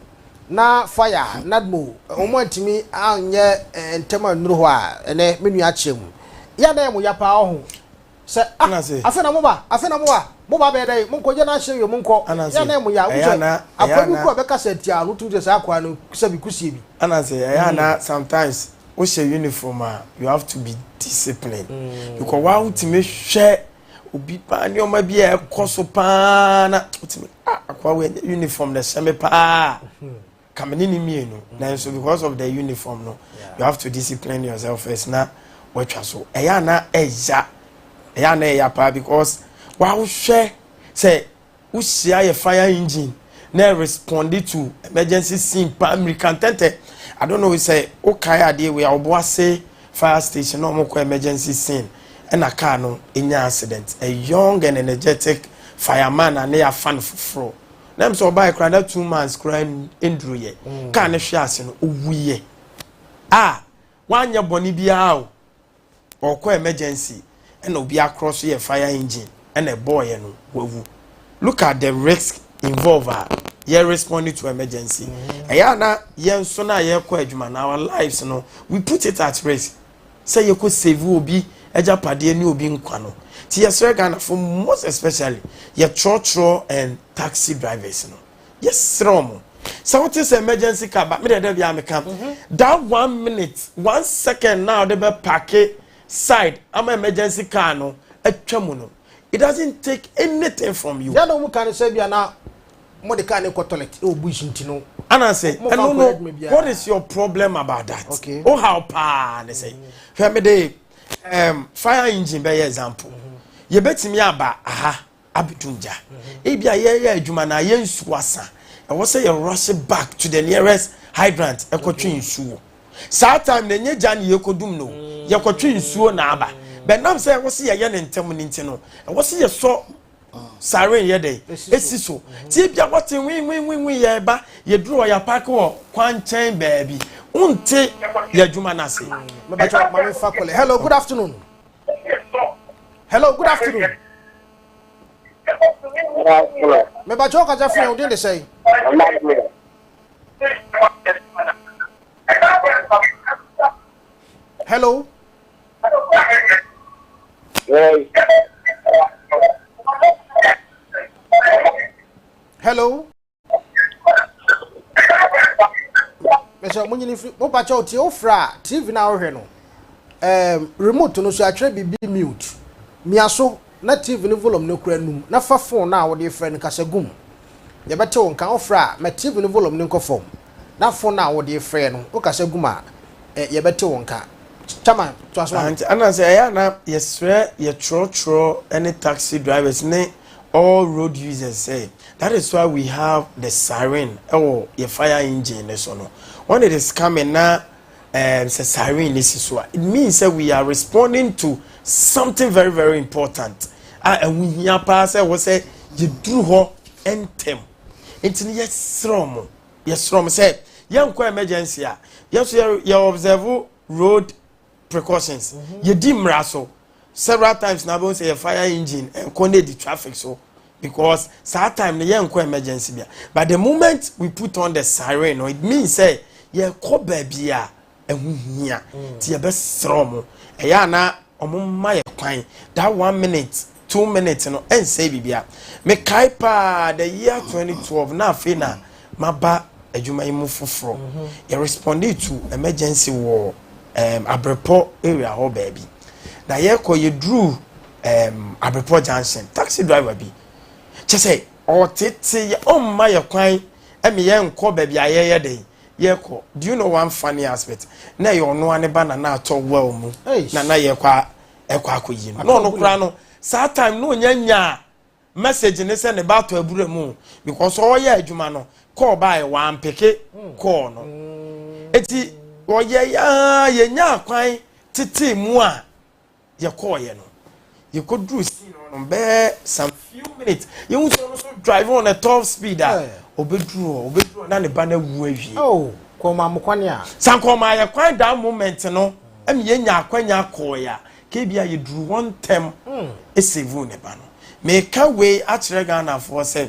na fire, NADMO, wɔn antumi anyɛ ntɛm annuru hɔ a, ɛnnɛ, me nua kyerɛ mu. Yɛ a na ɛyɛ mo ya paa, ɔho. Sɛ, ah, afe na moba, afe na moba, moba abɛyɛ dɛn, monkɔ, yɛ na hyɛ wie, monkɔ, yɛ anan mu ya. Wohu sɛ, akoa bi kura bɛka sɛ nti a, na wotumi sɛ saa akoa no sɛ bi kusie bi. Ananse, ɛyɛ a na sometimes wohyɛ uniform a, you have to be disciplined. Because waa wotumi hwɛ obi paa nneɛma bi a ɛkɔ so paa na wotumi, ah, akoa wei, uniform na ɛhyɛ me paa. ka me ne no mmienu nanso because of the uniform no you have to discipline yourself first na watwa so ɛyɛ a na ɛya ɛyɛ a na ɛya paa because wawohwɛ sɛ wohyia yɛ fire engine na responded to emergency scene paa mmirika ntɛntɛ i don't know sɛ wokae adeɛ wei a ɔbo ase fire station na wɔkɔ emergency scene ɛna kaa no ɛnya accident a young and energetic fireman a ne yɛafa no foforɔ na ɛm sɛ ɔbaeɛ koraa na two months koraa nduruyɛ mm. kaa no hwe ase no ɔwuiɛ a wanyɛ bɔne biara o ɔkɔ emergency ɛna obi akorɔ so yɛ fire engine ɛna ɛbɔɔyɛ no wawu look at the risk involved a yɛ responding to emergency mm. ɛyɛ ana yɛn nso no a yɛkɔ adwuma na our lives no we put it at risk sɛ yɛkɔ save obi agyapadeɛ ne obi nkwa no nti yɛsrɛ Ghanafo most especially yɛtrɔtrɔ and taxi drivers no yɛsrɛ ɔmo sɛ wote sɛ emergency car ba medeɛ da biara meka mhm. that one minute one second na wode bɛpake side ama emergency car no atwa mu no it doesn't take anything from you. Yẹ́n na ọmụ ka ne sẹ́ bia na Mo de car ne kɔ toilet wɔ bush nti no. Ana sɛ ɛno no what is your problem about that? Okay. O how paa ne sɛ hwɛ me de um, fire engine bɛyɛ example. Mm-hmm. Yɛbɛtumi aba aha abɛtum gya. Mm-hmm. Ebi a yɛyɛ adwuma na yɛ nsuo asa. Ɛwɔ sɛ yɛ rush back to the nearest hydrant ɛkɔtwe mm-hmm. nsuo. Saa time na ɛnyɛ gya ne yɛkɔdum no. Yɛkɔtwe nsuo na aba. Bɛnam sɛ ɛwɔ sɛ yɛyɛ ne ntɛm ne nti no. Ɛwɔ sɛ yɛsɔ Siren yɛ dɛn? Esi so. Ti ebia wɔte nwenwenwenwen yɛ ba yɛduru hɔ yɛapaake wɔ kwankyɛn baabi. Wonte yɛ adwuma no ase. Mebɛtɔ mame fa kɔlɛ. Hello, good afternoon. Hello, good afternoon. Mebɛtɔ wo kasa firi yɛn wodin de sɛe. Hello. hello mɛsɛ ɔmo nyini firi mo pakyɛ o tie o fira tv na ɔhwɛ no ɛɛm remote no so atwerɛ biribi mute mia so na tv no volume no kura num na fa phone na ɔde frɛ no kasa gum yɛbɛte wo nka o fira mɛ tv no volume no nkɔ fam. Na fon no a wode refrɛ no, wokasa gu mu a, ɛ, yɛbɛte wo nka. Chama, toa so ma me. Auntie, ɛna sɛ ɛyɛ a na yɛsrɛ yɛ trɔtrɔ ne taxi drivers ne all road users sɛ, that is why we have the siren wɔ yɛ fire engine no so no. When it is coming na, ɛɛm, sɛ siren no si so a, it means sɛ we are responding to something very very important a ɛho hia paa sɛ ɛwɔ sɛ yɛduru hɔ ntɛm. nti no yɛserɛ ɔmo yɛserɛ ɔmo sɛ yɛnkɔ emergency a yɛso yɛ yɛ observe road precautions mhm. yɛdi mmara so several times na abɛhu sɛ yɛ fire engine ɛnkɔ na ɛdi traffic so because saa time no yɛnkɔ emergency bia but the moment we put on the siren no it means sɛ yɛkɔ baabi a ɛho hia nti mm. yɛbɛsrɛ ɔmo ɛyɛ a na ɔmo mma yɛ kwan that one minute two minutes no ɛnsɛe biribia mekae paa the year 2012 na afei na maba adwuma yi mu foforɔ mhm. yɛ responded to emergency wɔ um, abrepɔ area hɔ baabi na yɛkɔ yɛduru um, abrepɔ junction taxi driver bi kyɛ sɛ ɔtete yɛ ɔmma yɛ kwan ɛmi yɛ nkɔ baabi a yɛyɛ dɛ Yɛkɔ do you know one funny aspect na ɛyɛ ɔno a ne ba na na atɔ well mu na na yɛkɔ a ɛkɔ akɔyi no na ɔno koraa no saa time na ɔnya nyaa message ne sɛ ne ba atɔ abura mu because ɔyɛ adwuma no kɔɔ baeɛ wampeke kɔɔ no eti ɔyɛ yaa yɛnya akwan tetee mu a yɛkɔɔeɛ no yɛkɔduru scene hɔ no bɛyɛ some few minutes yɛhu sɛ ɔno nso drive on a top speed a eh. ɔbɛduru hɔ ɔbɛduru hɔ na ne ba no awu awie oh, kɔma mo kwan a sankɔma yɛ kwan daa moment no ɛma yɛnya akwanya kɔɔeɛ a kebi a yɛduru hɔ ntɛm hmm. ɛsɛvu ne ba no meka wei akyerɛ ghanafoɔ sɛ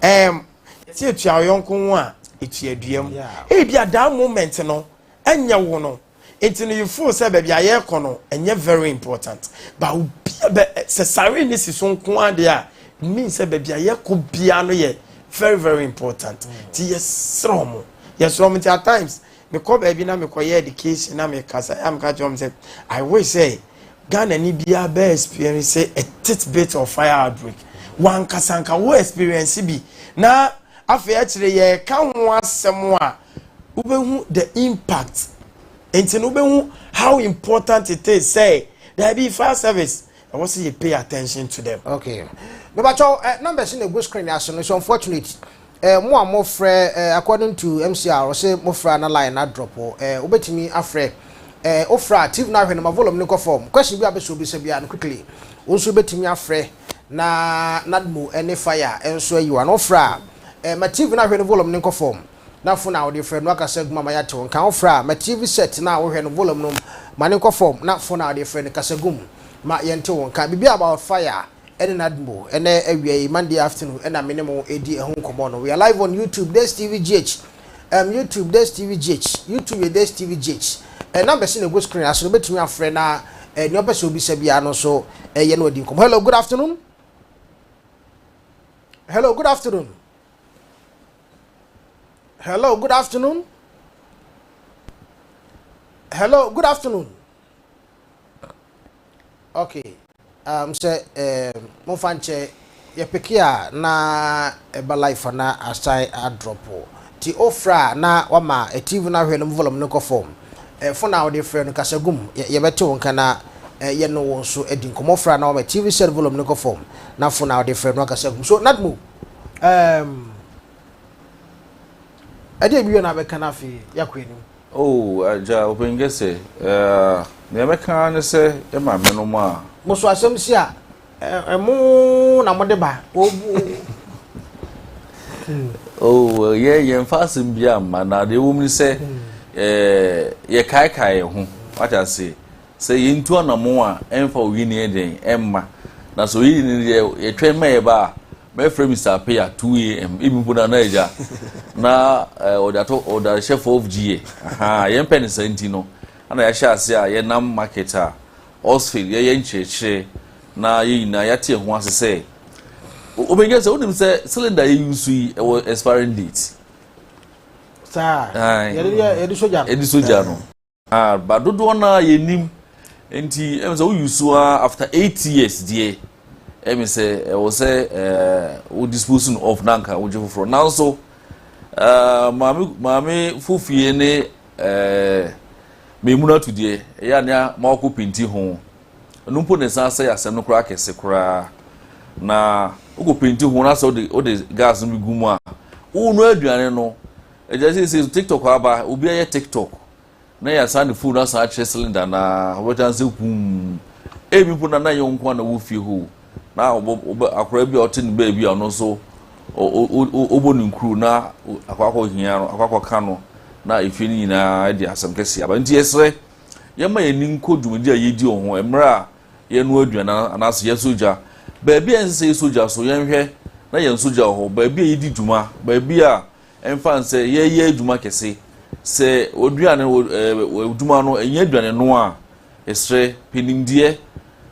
ɛm yɛsɛ ɛtua ɔyɔnko ho a ɛtua duam ebi a daa moment no ɛnyɛ wo no nti no you feel sɛ baabi a yɛrekɔ no ɛnyɛ very important but obia bɛ sɛ sare ne si so nko adeɛ a mean sɛ baabi a yɛkɔ biara no yɛ very very important nti yɛsrɛ ɔmo yɛsrɛ ɔmo nti at times mekɔ baabi na mekɔyɛ education na mekasa yɛ a meka kyerɛ ɔmo sɛ i wish sɛ ghana ni biara bɛ experience a tit bit of fire outbreak wankasa nka wo experience bi na afei akyire yɛka ho asɛm a Wobɛhu the impact nti no wobɛhu how important it is sɛ daabi fire service ɛwɔ sɛ yɛ pay attention to them. Okay. Mebakyɛw uh, eh, numbers na egu screen ase no so unfortunate. Uh, mo a mo frɛ uh, eh, according to MCR ɔse mo frɛ na line na drop uh, eh, obetumi afrɛ uh, ofra TV na ahwɛ no ma volume no kɔ form. Question bi a bɛsɔ bisa bia no quickly. Wo nso betumi afrɛ na nadmo ne fire nso ayi wa no ofra uh, ma TV na ahwɛ no volume no kɔ form. Na fon a wode frɛ no akasa gu mu ama yɛate wo nka. Wofrɛ a, ma TV sɛt no a wohwɛ no volom no, ma no nkɔ fam, na fon a wode frɛ no kasa gu mu ma yɛnte wo nka. Biribi about fire ɛne Nadmo. Ɛnnɛ awia yi, Monday afternoon, na me ne mo redi ɛho nkɔmmɔ no. We are live on YouTube, DestTv GH. Um, YouTube, DestTv GH. YouTube yɛ DestTv GH. Eh, numbers no na ɛgu screen ase no, wobɛtumi afrɛ na eh, nea ɔpɛ sɛ obisa biara no nso eh, yɛ na wadi nkɔmmɔ. Hello, good afternoon. Hello, good afternoon. Hello, good afternoon. Hello, good afternoon. Okay. Um, sɛ eh, momfa nkyɛ yɛpeke a na ɛba life a na asan adrɔpo nti wofrɛ a na wama tv no ahwɛ no mu volume no kɔ fam eh, fon a wode frɛ no kasa gum yɛ- yɛbɛte wo nka na eh, yɛne wo nso adi nkɔmmɔ frɛ a na wama tv set volume no kɔ fam na fon a wode frɛ no akasa gum so natmo Um, ɛde ebi yɛ na abɛka no afei yɛakɔ anim. Oh, agya ɔpɛnkɛ sɛ eh, nea mɛka ne sɛ ɛma menom a. mo so asɛm si a ɛmo eh, eh, na mode ba obu. oh, eh, yɛ yɛmfa asɛm bi amma na deɛ ɛwɔ mu ne sɛ hmm. yɛkaekae yɛn ho wate ase Sɛ yɛntu anammɔn a, ɛmfa oyi ne yɛ dɛn? Ɛmma. Na sɛ oyi ne deɛ yɛtwɛn ma yɛba a, mɛfrɛ Mister Appiah, 2 AM, ebi mpo Nana Agya, na eh, ɔde ato ɔdarehyɛfoɔ of GA. Ahaa, yɛmpɛ no saa nti no, ɛna yɛahyɛ ase a yɛnam market a, Osfield, yɛyɛ nkyerɛkyerɛ, na yɛn nyinaa yɛate yɛn ho ase sɛ, O- Obengya sɛ wonim sɛ cylinder a yɛyusu yi, ɛwɔ expiring date. saa Ae. yɛde yɛ- yɛde sogya no. ɛde sogya no. Ah but dodoɔ no ara yɛnim nti ɛmi sɛ wo use so ara after eight years deɛ ɛmi sɛ ɛwɔ sɛ ɛɛ wo dispose no off na nka wogye foforɔ nanso ɛɛ maame maame fofie ne ɛɛ mmienu ato deɛ ɛyɛ anea ma wakɔ penti ho ɛno mpo na ɛsan sɛ asɛm no koraa kɛse koraa na wokɔ penti ho na sɛ wode wode gas no bi gu mu a wonu aduane no. Agya seesei so tiktok aba obi ayɛ tiktok na yɛasan ne phone asan akyerɛ cylinder na wɔbɛta nsɛ huum ebi mpo na na yɛ nko na wɔ fie hoo na ɔbɔ akora bi a ɔte ne baabi a ɔno nso ɔbɔ ne nkuru na akɔakɔ hia no akɔakɔ ka no na efie no nyinaa de asɛm kɛse aba nti yɛsrɛ yɛma yɛn ani nkɔ dwumadi a yɛdi wɔ ho mmerɛ a yɛnoa aduan anaasɛ yɛsɔ gya baabi a ɛnsɛ sɛ yɛsɔ gya so yɛnhwɛ na yɛn sogya wɔ hɔ baabi a yɛdi dwuma baabi a Ɛmfa no sɛ yɛreyɛ adwuma kɛse, sɛ w'aduane wɔ ɛɛ adwuma no ɛnyɛ aduane noa a, yɛsrɛ pɛ nimdeɛ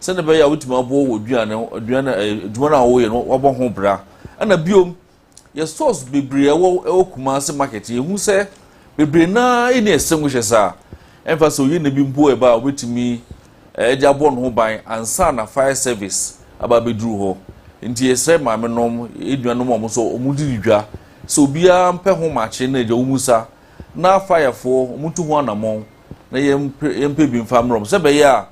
sɛnea ɛbɛyɛ a wobɛtumi aboa w'aduane aduane ɛɛ adwuma no a wɔreyɛ no wabɔ ho bra. Ɛna biom, yɛ stores bebree a ɛwɔ ɛwɔ Kumasi market yɛhu sɛ bebree no ara nni extinguishers a ɛmfa sɛ oyi na bi mpo ɛba a wobɛtumi de abɔ ne ho ban ansa na fire service aba abɛduru hɔ. Nti yɛsrɛ maame nom, yɛn nuanom a wɔn nso wɔn de di dwa sɛ obiara mpɛ ho makye na agya wɔn mu sa na fire foɔ wɔn ntu ho anamɔn na yɛn yɛn mpɛ bi nfa mmerɛ wɔn sɛ bɛyɛ a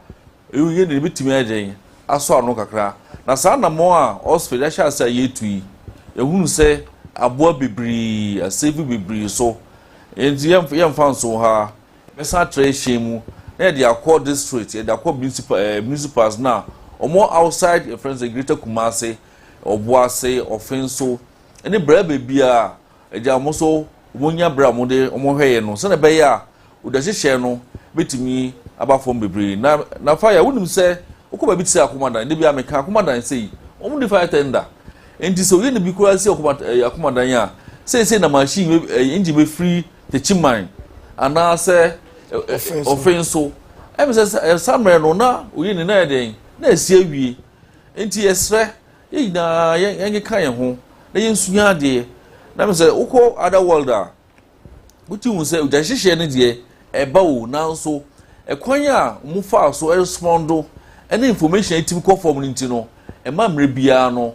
ɛyɛ yɛn de bɛtumi ayɛ dɛn asɔ ano kakra na saa anamɔn a Oxford ahyɛ ase a yɛretu yi yɛhunu sɛ aboa bebree, asave bebree so. Nti yɛmfa nso ha. Yɛbɛsan atra ɛhyɛn mu na yɛde akɔ district, yɛde akɔ municipal ɛɛ municipals no a wɔwɔ outside yɛfrɛ no sɛ Greater Kumasi, Ɔboase, Ɔfenso ne bere baabiara a ɛgya wɔn nso wɔnya bere a wɔde wɔn hwɛ yɛn no sɛnea ɛbɛyɛ a odwa hyehyɛe no bɛtumi aba fam bebree. Na na fire wonim sɛ wokɔ baabi te sɛ Akomadan, da bi a meka Akomadan sɛ yi wɔn nni fire tender nti sɛ oyi de bi koraa si Akomadan a seesei na machine engine bɛfiri Tekyiman anaasɛ Ofenso. Ɛm sɛ saa mmerɛ no na oyi ne na yɛ dɛn? Na asi awie. Nti yɛsrɛ yɛn nyinaa yɛnkeka yɛn ho na yɛnsua adeɛ. Na ɛm sɛ wokɔ other world a, wotumi hu sɛ gyanhyehyeɛ no deɛ ɛba o, nanso ɛkwan a wɔfaa so respond ne information a ɛtumi kɔ fam no nti no, ɛma mmerɛ biara no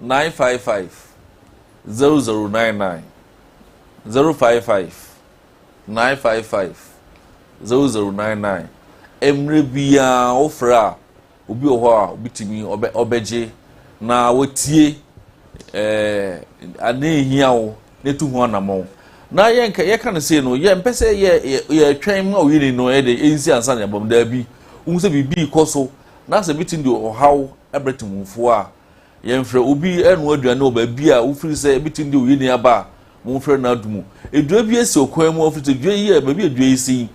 nine five five zero zero nine nine zero five five nine five five zero zero nine nine mmerɛ biara wofrɛ a obi wɔ hɔ a obitumi ɔbɛ ɔbɛgye na watie ɛɛ ade nhia wo na etu ho anamɔn na yɛn ka yɛka no sei no yɛn mpɛ sɛ yɛ yɛ yɛtwɛn ma oyi ni no ɛde nsi ansa na ɛbɔm daabi ohun sɛ biribi kɔ so na sɛ bitin de ɔhaw ɛbrɛ tumufoɔ a. Yɛmfrɛ obi ɛnoa aduane wɔ baabi a wofiri sɛ ebetumi de oyɛ ni aba a momfrɛ no ado mu. Edua bi esi ɔkwan mu ɔfiri sɛ dua yi yɛ baabi a dua yi si yi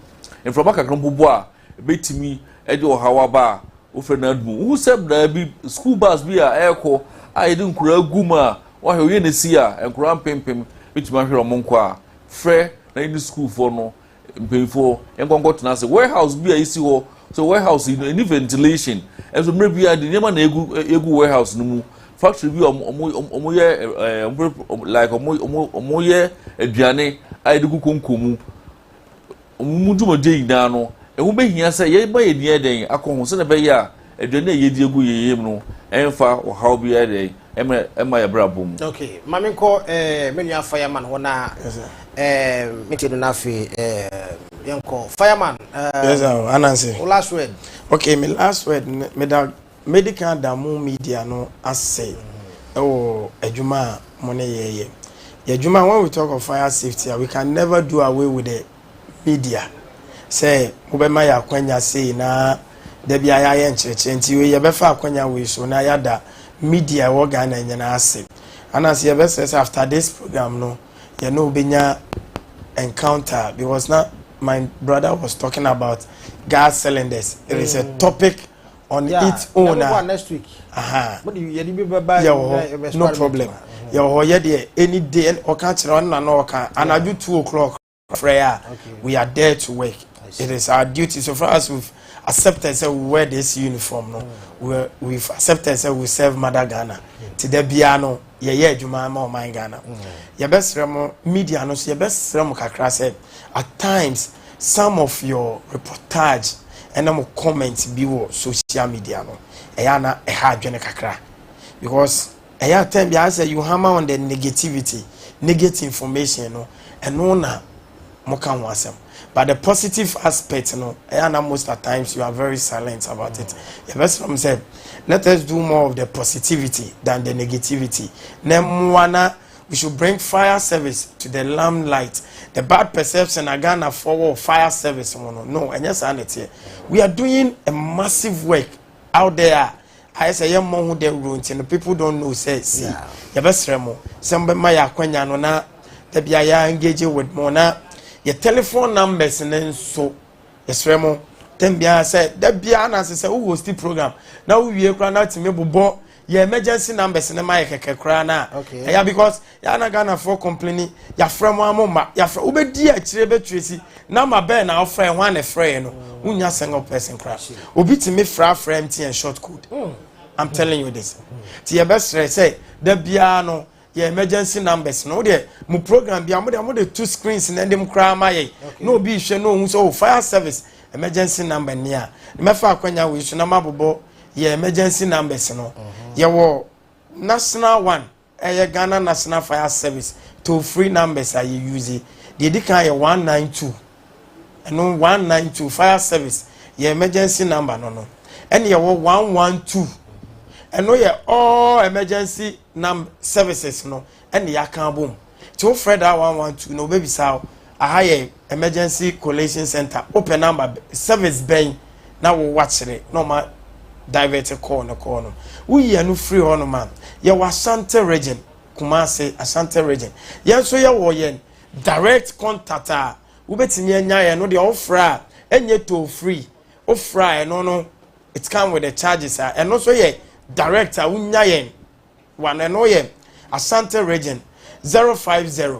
mframa kakra mpo bɔ a ebetumi de ɔhaw aba a wofrɛ no ado mu. Wohu sɛ braa bi sukuu bus bi a ɛrekɔ a yɛde nkoraa gu mu a wɔahwɛ oyɛ no si a nkoraa mpempem betumi ahwere wɔn nkwa a frɛ na yɛne sukuufoɔ no mpanyinfoɔ nkɔ nkɔ tena ase warehouse bi a esi hɔ so warehouse yi no ɛni ventilation ɛnso mmerɛ bi a de nneɛma na egu egu warehouse no mu factory bi a wɔn wɔn wɔn yɛ ɛɛ wɔn like wɔn wɔn wɔn yɛ aduane a yɛde gu konko mu wɔn mu dwumadie nyinaa no ɛho behia sɛ yɛma yɛn ni yɛ dɛn akɔ ho sɛdeɛ ɛbɛyɛ a aduane a yɛdi egu yɛn yam no ɛnfa ɔhaw bi yɛ dɛn. ɛmɛ ɛma yɛ bra bɔ mu. ok maame nkɔ ɛɛ eh, me nua fireman hɔ na ɛɛ eh, me ti do na afei ɛɛ eh, yɛn kɔ fireman ɛɛ. yes sir oh, anansi. o last word. ok me last word me da medical damu media no ase ɛwɔ mm-hmm. adwuma a mo ne yɛ yɛ yɛ adwuma when we talk of fire safety we can never do away with it. bi dea sɛ mobɛma yɛ akwanya sei na da biara yɛayɛ nkyerɛkyerɛ nti wei yɛbɛfa akwanya wei so na yɛada media ɛwɔ Ghana nyinaa ase. Anas yɛbɛsrɛ sɛ after this program no yɛne wo bɛnya encounter because na my brother was talking about gas cylinders it is a mm. topic on yeah. its own a next week aha yɛwɔ hɔ no problem yɛwɔ hɔ yɛ deɛ any day ɔka kyerɛ ɔno na na ɔka anadwo two o'clock prayer we are there to work it is our duty so far as we've accepted say we wear this uniform no we we've accepted say we serve mother ghana ti da bia no yɛyɛ adwuma ma ɔman ghana yɛbɛsrɛ mo media no so yɛbɛsrɛ mo kakra sɛ at times some of your reportage ɛna mo comment bi wɔ social media no ɛyɛ ana ɛha adwene kakra because Ɛyɛ a time biara sɛ you hammer on the negativity, negate information no, ɛno na moka ho asɛm. But the positive aspect no, ɛyɛ a na most at times you are very silent about it. Yɛbɛsrɛ mo sɛ, let us do more of the positivity than the negativity. Na mmoa na we should bring fire service to the limelight. The bad perception a Ghanafoɔ wɔ fire service ho no, no, ɛnyɛ saa na ɛteɛ. We are doing a massive work out there a ayɛ sɛ yɛ mmɔ ho dawuro nti no people don't know sɛ si yɛbɛsrɛ mo sɛ mobɛma yɛ akwanya no na da bia yɛ engage with mo na yɛ telephone numbers no nso yɛsrɛ mo tɛm biara sɛ da biara na sɛ sɛ wo host program na wowie koraa na tumi bobɔ yɛ emergency numbers no ma yɛ kɛkɛ koraa na ɛyɛ because Yɛa na Ghanafoɔ kompleni, yɛafrɛ mo a mo mma, yɛafrɛ, wobɛdi akyire bɛ Tracy, namba bɛn na wofrɛɛ, hwan na ɛfrɛɛ no, wonnya single person kora. Obi tumi frɛ afrɛ MTN short code. I'm telling you this. Ti yɛbɛsrɛ sɛ, da biara no, yɛ emergency numbers no wodeɛ mo program bia mode mode to screens na ɛde m koraa ma yɛn na obi hwɛ na ɔhu sɛ oh fire service emergency number ni a mɛfa akwanya wei so na mabobɔ yɛ emergency numbers no yɛwɔ national one Ɛyɛ Ghana National Fire Service toll free numbers a yɛ use. Deɛ ɛdi kan yɛ 192. Ɛno 192 fire service yɛ emergency number no no. Ɛne yɛwɔ 112. Ɛno yɛ all emergency num services no ɛne yɛaka abom. Nti wofrɛ daa 112 no wɔbɛbisa wo Aha yɛ Emergency Collation Centre, wopɛ number service bɛn na wo wakyerɛ na ɔma divert call no call no. Woyi ɛno firi hɔ nom a, yɛwɔ Ashanti region, Kumasi, Ashanti region. Yɛn nso yɛwɔ yɛn direct contact a wobɛtumi anya yɛn no deɛ wofrɛ a ɛnyɛ toll free. Wofrɛ a ɛno no it come with the charges a ɛno nso yɛ direct a wonya yɛn wɔ ano ɛno yɛ Ashanti region 050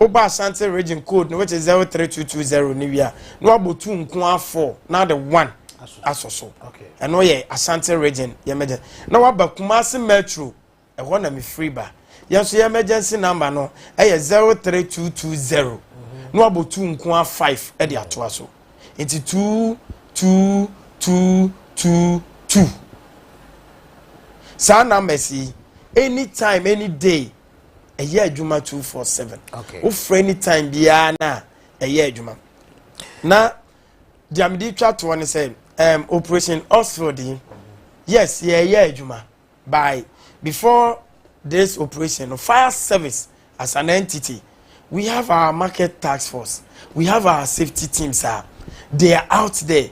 wobɔ asante region code no which is zero three two two zero ne wie a na wabɔ two nko ara four na de one asɔ so ɛno yɛ asante region yɛ mɛgyɛ na waba kumase metro ɛhɔ na mefiri ba yɛn nso yɛ emergency number no ɛyɛ zero three two two zero na wabɔ two nko ara five ɛde atoa so nti two two two two two saa numbers yi anytime any day. ɛyɛ adwuma two four seven wofrɛ ni time biara na ɛyɛ adwuma na deɛ mede twa toɔ ne sɛ um, operation oxford yi yes yɛyɛ adwuma by before this operation no fire service as an entity we have our market task force we have our safety teams ah they are out there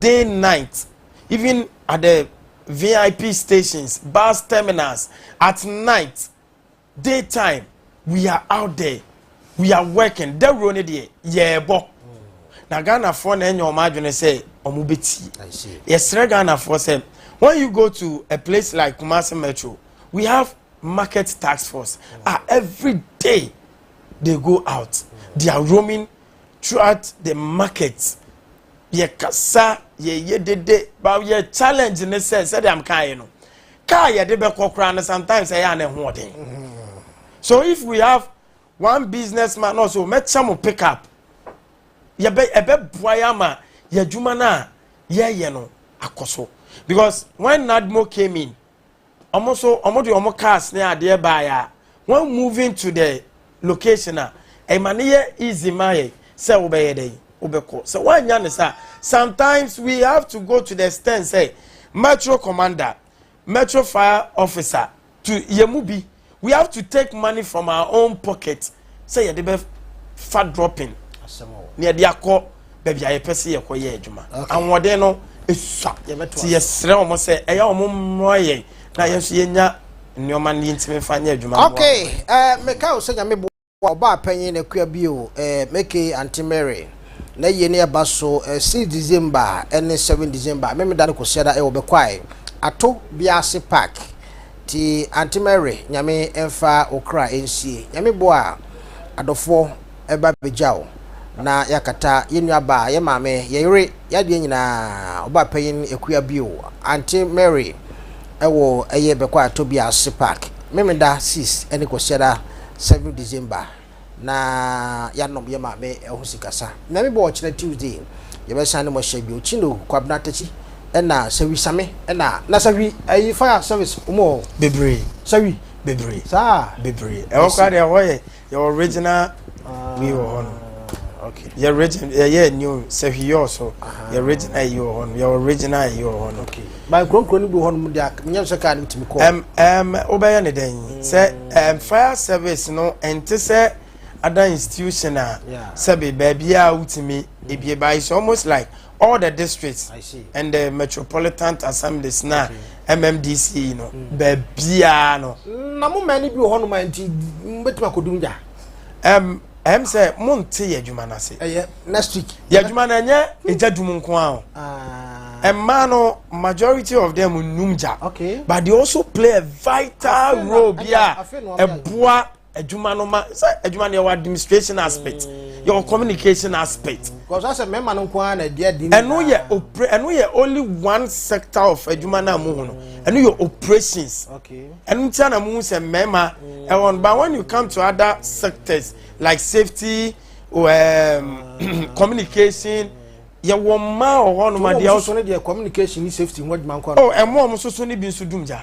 day night even at the VIP stations, bus terminals, at night, day time, we are out there, we are working. Dawuro no deɛ yɛɛbɔ. Na Ghanafoɔ na ɛnyɛ wɔn adwene sɛ wɔn bɛtie. Yɛsrɛ Ghanafoɔ sɛ when you go to a place like Kumasi Metro, we have market task force. Ah, every day they go out, they are roaming throughout the market yɛkasa yɛyɛ dede ba yɛ challenge ne sɛ sɛdeɛ am kaeɛ no kaa yɛde bɛkɔ koraa no sometimes ɛyɛ a na ɛho ɔden so if we have one business man na ɔsɛ ɔmɛkyɛ mo pick up yɛbɛ ɛbɛboa yɛ ama yɛ adwuma no a yɛyɛ no akɔ so because when nadmo came in wɔn nso wɔde wɔn cars ne adeɛ baeɛ a when moving to the location a ɛma no yɛ easy ma yɛ sɛ wobɛyɛ dɛn wobɛkɔ sɛ woannya ne saa sometimes we have to go to the extent sɛ metro commander metro fire officer to yɛ mu bi we have to take money from our own pocket sɛ yɛde bɛ fa dropping na yɛde akɔ baabi a yɛpɛ sɛ yɛkɔ yɛ adwuma ahoɔden no esua ti yɛsrɛ wɔn sɛ ɛyɛ wɔn mmoa yɛn na yɛn nso yɛnya nneɛma no yɛntumi fa nyɛ adwuma. okay ɛɛ eh, meka o sɛ nyame bo. Ɔbaa panyin na kua bio eh Mekei Aunty Mary na yie ne ɛba so eh Six December ne seven December Memeda ne Kwasiada eh Wɔbɛkwae ato biase park Ti Aunty Mary Nyame mfa wo kra nsie Nyame boa adɔfoɔ ɛba bɛgya wo Na yɛakata yɛn nuabaa, yɛn maame, yɛn yere Yɛn adeɛ nyinaa Ɔbaa panyin kua bio Aunty Mary ɛwɔ ɛyɛ bɛkwae ato biase park Memeda Six ne Kwasiada Seventh December na yɛanom yɛ maame ho sikasa. Nyame bɔ ɔkyena Tuesday yɛbɛsan ne mɔhyɛ bio. Chino Kwabena Takyi ɛna Sawi Same ɛna na Sawi ɛyi fire service wɔn wɔ bebree Sawi bebree saa bebree ɛhɔ koraa deɛ ɛhɔ yɛ yɛ original wei wɔ hɔ no. Okay. Yɛ original yɛ yɛ new Sawi yɛ ɔso yɛ original yi wɔ hɔ no yɛ original yi wɔ hɔ no. Okay. By nkuronkuro no bi hɔ nom deɛ menyɛ sɛ kaa no tumi kɔ. Ɛm ɛm wobɛyɛ ne dɛn mm. sɛ ɛm fire service no ɛnte sɛ ada institution a sɛbi baabi a wotumi mm. ebie ba it's almost like all the districts and the metropolitan assemblies na MMDC no mm. baabi a no. Na mo mmaa no bi wɔ hɔ nom a nti mbɛtumi akɔdum gya. Ɛm. ɛm sɛ mo nte yɛ adwuma no ase ɛyɛ next week yɛ adwuma no ɛnyɛ ɛgya dum nko a o ɛmmaa ah. no majority of them nnum gya okay. but they also play a vital role bi a ɛboa adwuma no ma sɛ adwuma no yɛwɔ administration aspect mm. yɛwɔ communication aspect ɛno yɛ ɛno yɛ only one sector of adwuma no a mohu no ɛno yɛ operations okay. ɛno nti ana mu sɛ mmarima ɛwɔ no but when you come to other sectors like safety um, communication yɛwɔ mmaa wɔ hɔ nom adeɛ ɔso ne deɛ communication ne safety ho adwuma nkɔ no oh ɛmo ɔmo soso ne bi nso dum gya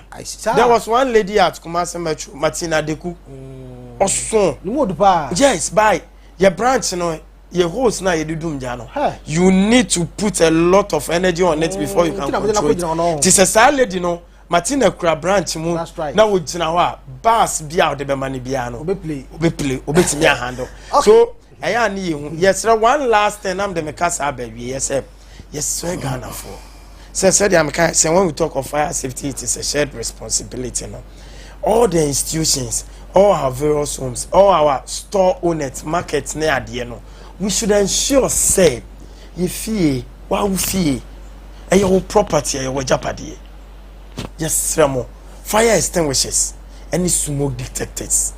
there was one lady at Kumasi Metro Martina Deku mm. ɔso ne mu odu paa yes by yɛ branch no your host na yɛde dum gya no you need to put a lot of energy on it before you can mm, control it te sɛ saa lady no Martina kura branch mu na wogyina hɔ a bus bi a wɔde bɛma no biara no obɛpile obɛtumi ahandle so ɛyɛ a ne yɛ hu yɛsrɛ one last thing nam de meka saa baawie yɛ sɛ yɛsrɛ ghanafoɔ sɛ sɛdeɛ meka sɛ when we talk of fire safety it is a shared responsibility no all the institutions all our various homes all our store owners markets ne adeɛ no we should ensure sɛ yɛ fie wawo fie ɛyɛ wo property ɛyɛ wɔ agyapadeɛ yɛsrɛ mo, fire extinguishers ne smoke detectors.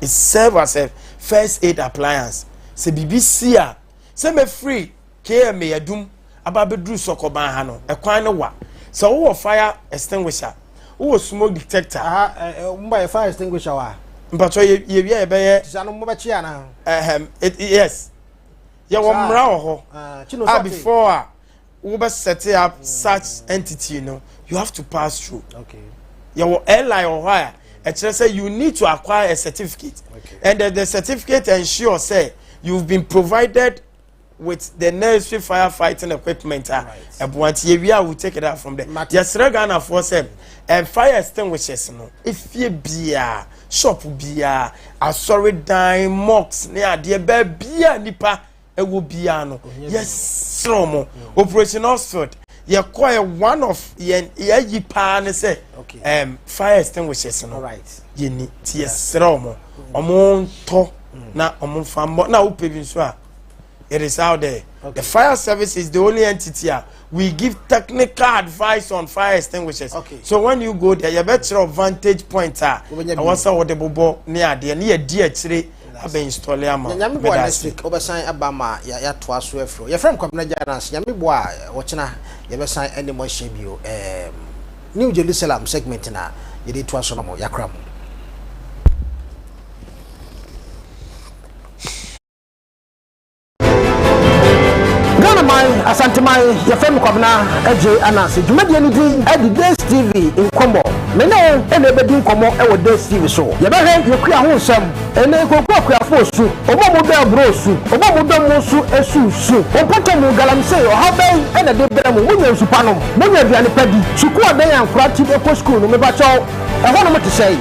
It serve as a first aid appliance. Sɛ biribi si a, sɛ mefiri KMA adum aba abɛduru sɔkɔban ha no, ɛkwan no wa. Sɛ wowɔ fire extinguisher, wowɔ smoke detector. Ah, eh, eh, mo bɛyɛ fire extinguisher wa? Mpatwɔ yɛ yɛ wia yɛ bɛyɛ. Ti sɛ no mo bɛkye ana? Ɛhɛm, yes. Yɛ wɔ mmara wɔ hɔ. Ah, a before a wo bɛ set up mm. such entity no you have to pass through okay. yɛwɔ airline wɔ hɔ a ɛkyerɛ sɛ you need to acquire a certificate okay. and the, the certificate ensure sɛ you've been provided with the necessary firefighting equipment a ɛboa nti yɛ wia we take it out from there yɛsrɛ ghanafoɔ sɛ ɛn fire extinguishers no efie biara shop biara asɔredan mosques ne adeɛ bɛɛ biara nipa. ɛwɔ biara no yɛserɛ mo operation oxford yɛkɔɛ one of yɛn yɛayi paa ne sɛ um, fire extinguishers no yɛni nti yɛserɛ mo ɔmo ntɔ na ɔmo mfa mmɔ na wopɛ bi nso a it is out there okay. the fire service is the only entity a we give technical advice on fire extinguishers okay. so when you go there yɛbɛkyerɛ vantage point a ɛwɔ sɛ wode bobɔ ne adeɛ ne yɛdi akyire abɛ install ama nyame boa next week wobɛsan aba ma yɛatoa so afiri yɛfrɛ m kwabena gya no ase nyame boa a wɔkyena yɛbɛsan anim ahyɛ bio new jerusalem segment na yɛde toa so no mo yɛakora mo Ghanaman, Asanteman, yɛfrɛ me Kwabena Adjei Ananse. Dwumadie no din de Days TV Nkɔmmɔ. Me ne wo na ɛbɛdi nkɔmmɔ wɔ Days TV so. Yɛbɛhwɛ yɛn kua ho nsɛm, ɛnɛ yɛkɔkura akuafoɔ su, wɔn a wɔdɔ aburoo su, wɔn a wɔdɔ mo nso su su. Mo mpɔtamu, galamsey, ɔhaw bɛn na ɛde brɛ mo? Monya nsu pa nom? Monya aduane pa di? Sukuu adan a nkwadaa ti de kɔ sukuu no, mepakyɛw, Ɛhɔnom te sɛn?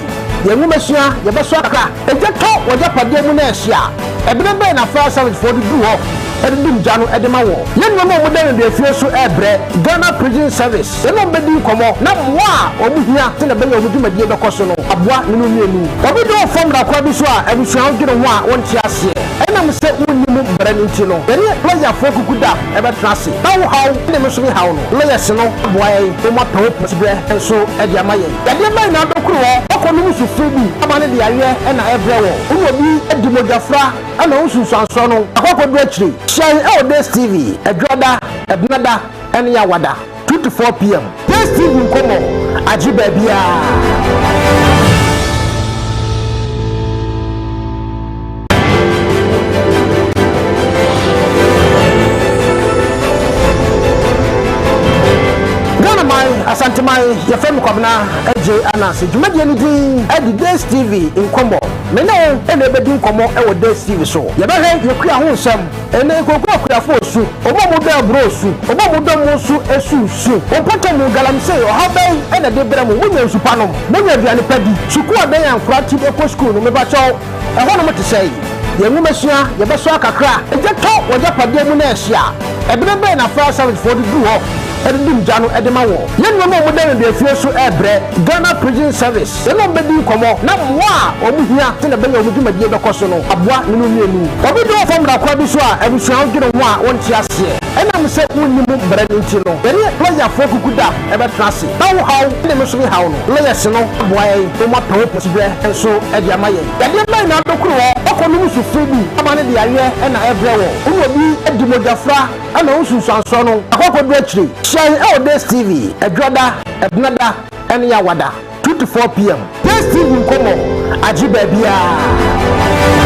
Yɛn nwomasua, yɛbɛsoa kakra. Egya tɔ w'agyapadeɛ mu na ɛhye a, ɛberɛ bɛn na fire service foɔ de duru hɔ de dum gya no de ma wo? Yɛ nneɛma a wɔda nneduafie so rebrɛ, Ghana Prison Service yɛne wɔn bɛdi nkɔmmɔ na mmoa a wɔhia sɛdeɛ ɛbɛyɛ a wɔn dwumadie bɛkɔ so no aboa ne no mmienu. Obi de wo fa mmara kwa bi so a, abusua wo dwene ho a wonte aseɛ ɛnam sɛ wonni mu mmara no nti no, yɛne lɔyafoɔ kuku da. bɛtena ase. Ná wo haw ne me nso me haw no mmɛyɛ se no aboa yɛn na wɔn apɛ wo pɔtibirɛ nso de ama yɛn. Yadeɛ mma nyinaa bɛkoro hɔ. Ɔkɔ no mu sufre bi aba no de yareɛ na ɛbrɛ wɔ. Wo ne obi di mogyafra na wo nsunsuansoɔ no akɔ akɔduru akyire. Hyia yɛn wɔ DACE TV, Adwada, Ɛbenada ne Yawada. Two to four pm Taste TV nkɔmɔ agye baabiara. Asanteman, yɛfrɛ me Kwabena Adjei Ananse. Dwumadie no din de Days TV Nkɔmmɔ. Me ne wo na ɛbɛdi nkɔmmɔ wɔ Days TV so. Yɛbɛhwɛ Yɛkua ho nsɛm. Ɛnɛ nkooko akuafo osu, wɔn a wɔdɔ aburoo osu, wɔn a wɔdɔ mo nso su su. Mo mpɔtam mu galamsee ɔhaw bɛn na ɛde brɛ mo? Monya nsu pa nom? Monya aduane pa di? Sukuu adan a nkwadaa te kɔ sukuu no, mepakyɛw, ɛhɔnom te sɛn? Yɛn nwomasua, yɛbɛsoa kakra? Gya tɔ wɔ agyapadeɛ mu na ɛhye a, ɛbene bɛn na fire servicefoɔ de duru hɔ de dum gya no de ma wɔn? Yɛn nneɛma a wɔda no dua fie so rebrɛ, Ghana Prison Service. Yɛne wɔn bɛdi nkɔmmɔ na mmoa a wɔhia sɛdeɛ ɛbɛyɛ a wɔn dwumadie bɛkɔ so no aboa ne no mmienu. Obi dwo wɔ fam mmara kwan bi so a, abusua ho dwene ho a wɔnte aseɛ ɛnam sɛ wonni mu mmara no nti no, yɛne lɔyafoɔ kuku da bɛtena ase na wo haw ne me nso me haw no, lɔyɛse no aboa yɛn na wɔapɛ wo pɔsiberɛ nso de ama yɛn. Yadeɛ bɛn na wode koro hɔ? Ɔkɔ nom so firi bi ama ne de aweɛ na ɛbrɛ wɔ. Wo ne obi di mogyafra na wo nsunsuansoɔ no akɔ akɔduru akyire. Hyɛn wɔ DSTV, Adwada, Benada. Ɛne awada two to four pm. Pace TV nkɔmɔ agye baabiara.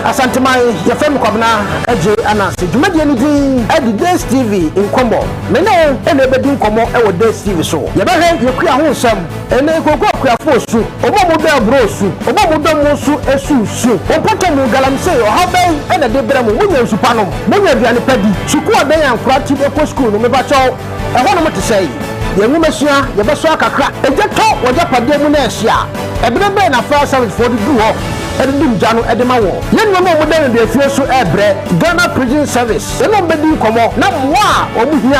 Asanteman, yɛfrɛ me Kwabena Adjei Ananse. Dwumadie no din de Days TV Nkɔmmɔ. Me ne wo na ɛbɛdi nkɔmmɔ wɔ Days TV so. Yɛbɛhwɛ Yɛkua ho nsɛm. Ɛnɛ nkooko akuafo osu, wɔn a wɔdɔ aburoo osu, wɔn a wɔdɔ mmo nso su su. Wɔ mpɔtam no, galamsey ɔhaw bɛn na ɛde brɛ mo? Munya nsu pa nom? Munya aduane pa di? Sukuu abɛn a nkwadaa ti de kɔ sukuu no, mepakyɛw, ɛhɔnom te sɛn? Yɛn nwomasua, yɛbɛsoa kakra. Egya tɔ wɔ agyapadeɛ mu na ɛhye a, ɛberɛ bɛn na fire servicefoɔ de du hɔ de dum gya no de ma wɔn? Yɛn nuanom a wɔda nneduafie so rebrɛ, Ghana Prison Service, yɛne wɔn bɛdi nkɔmmɔ, na mmoa a wɔhia.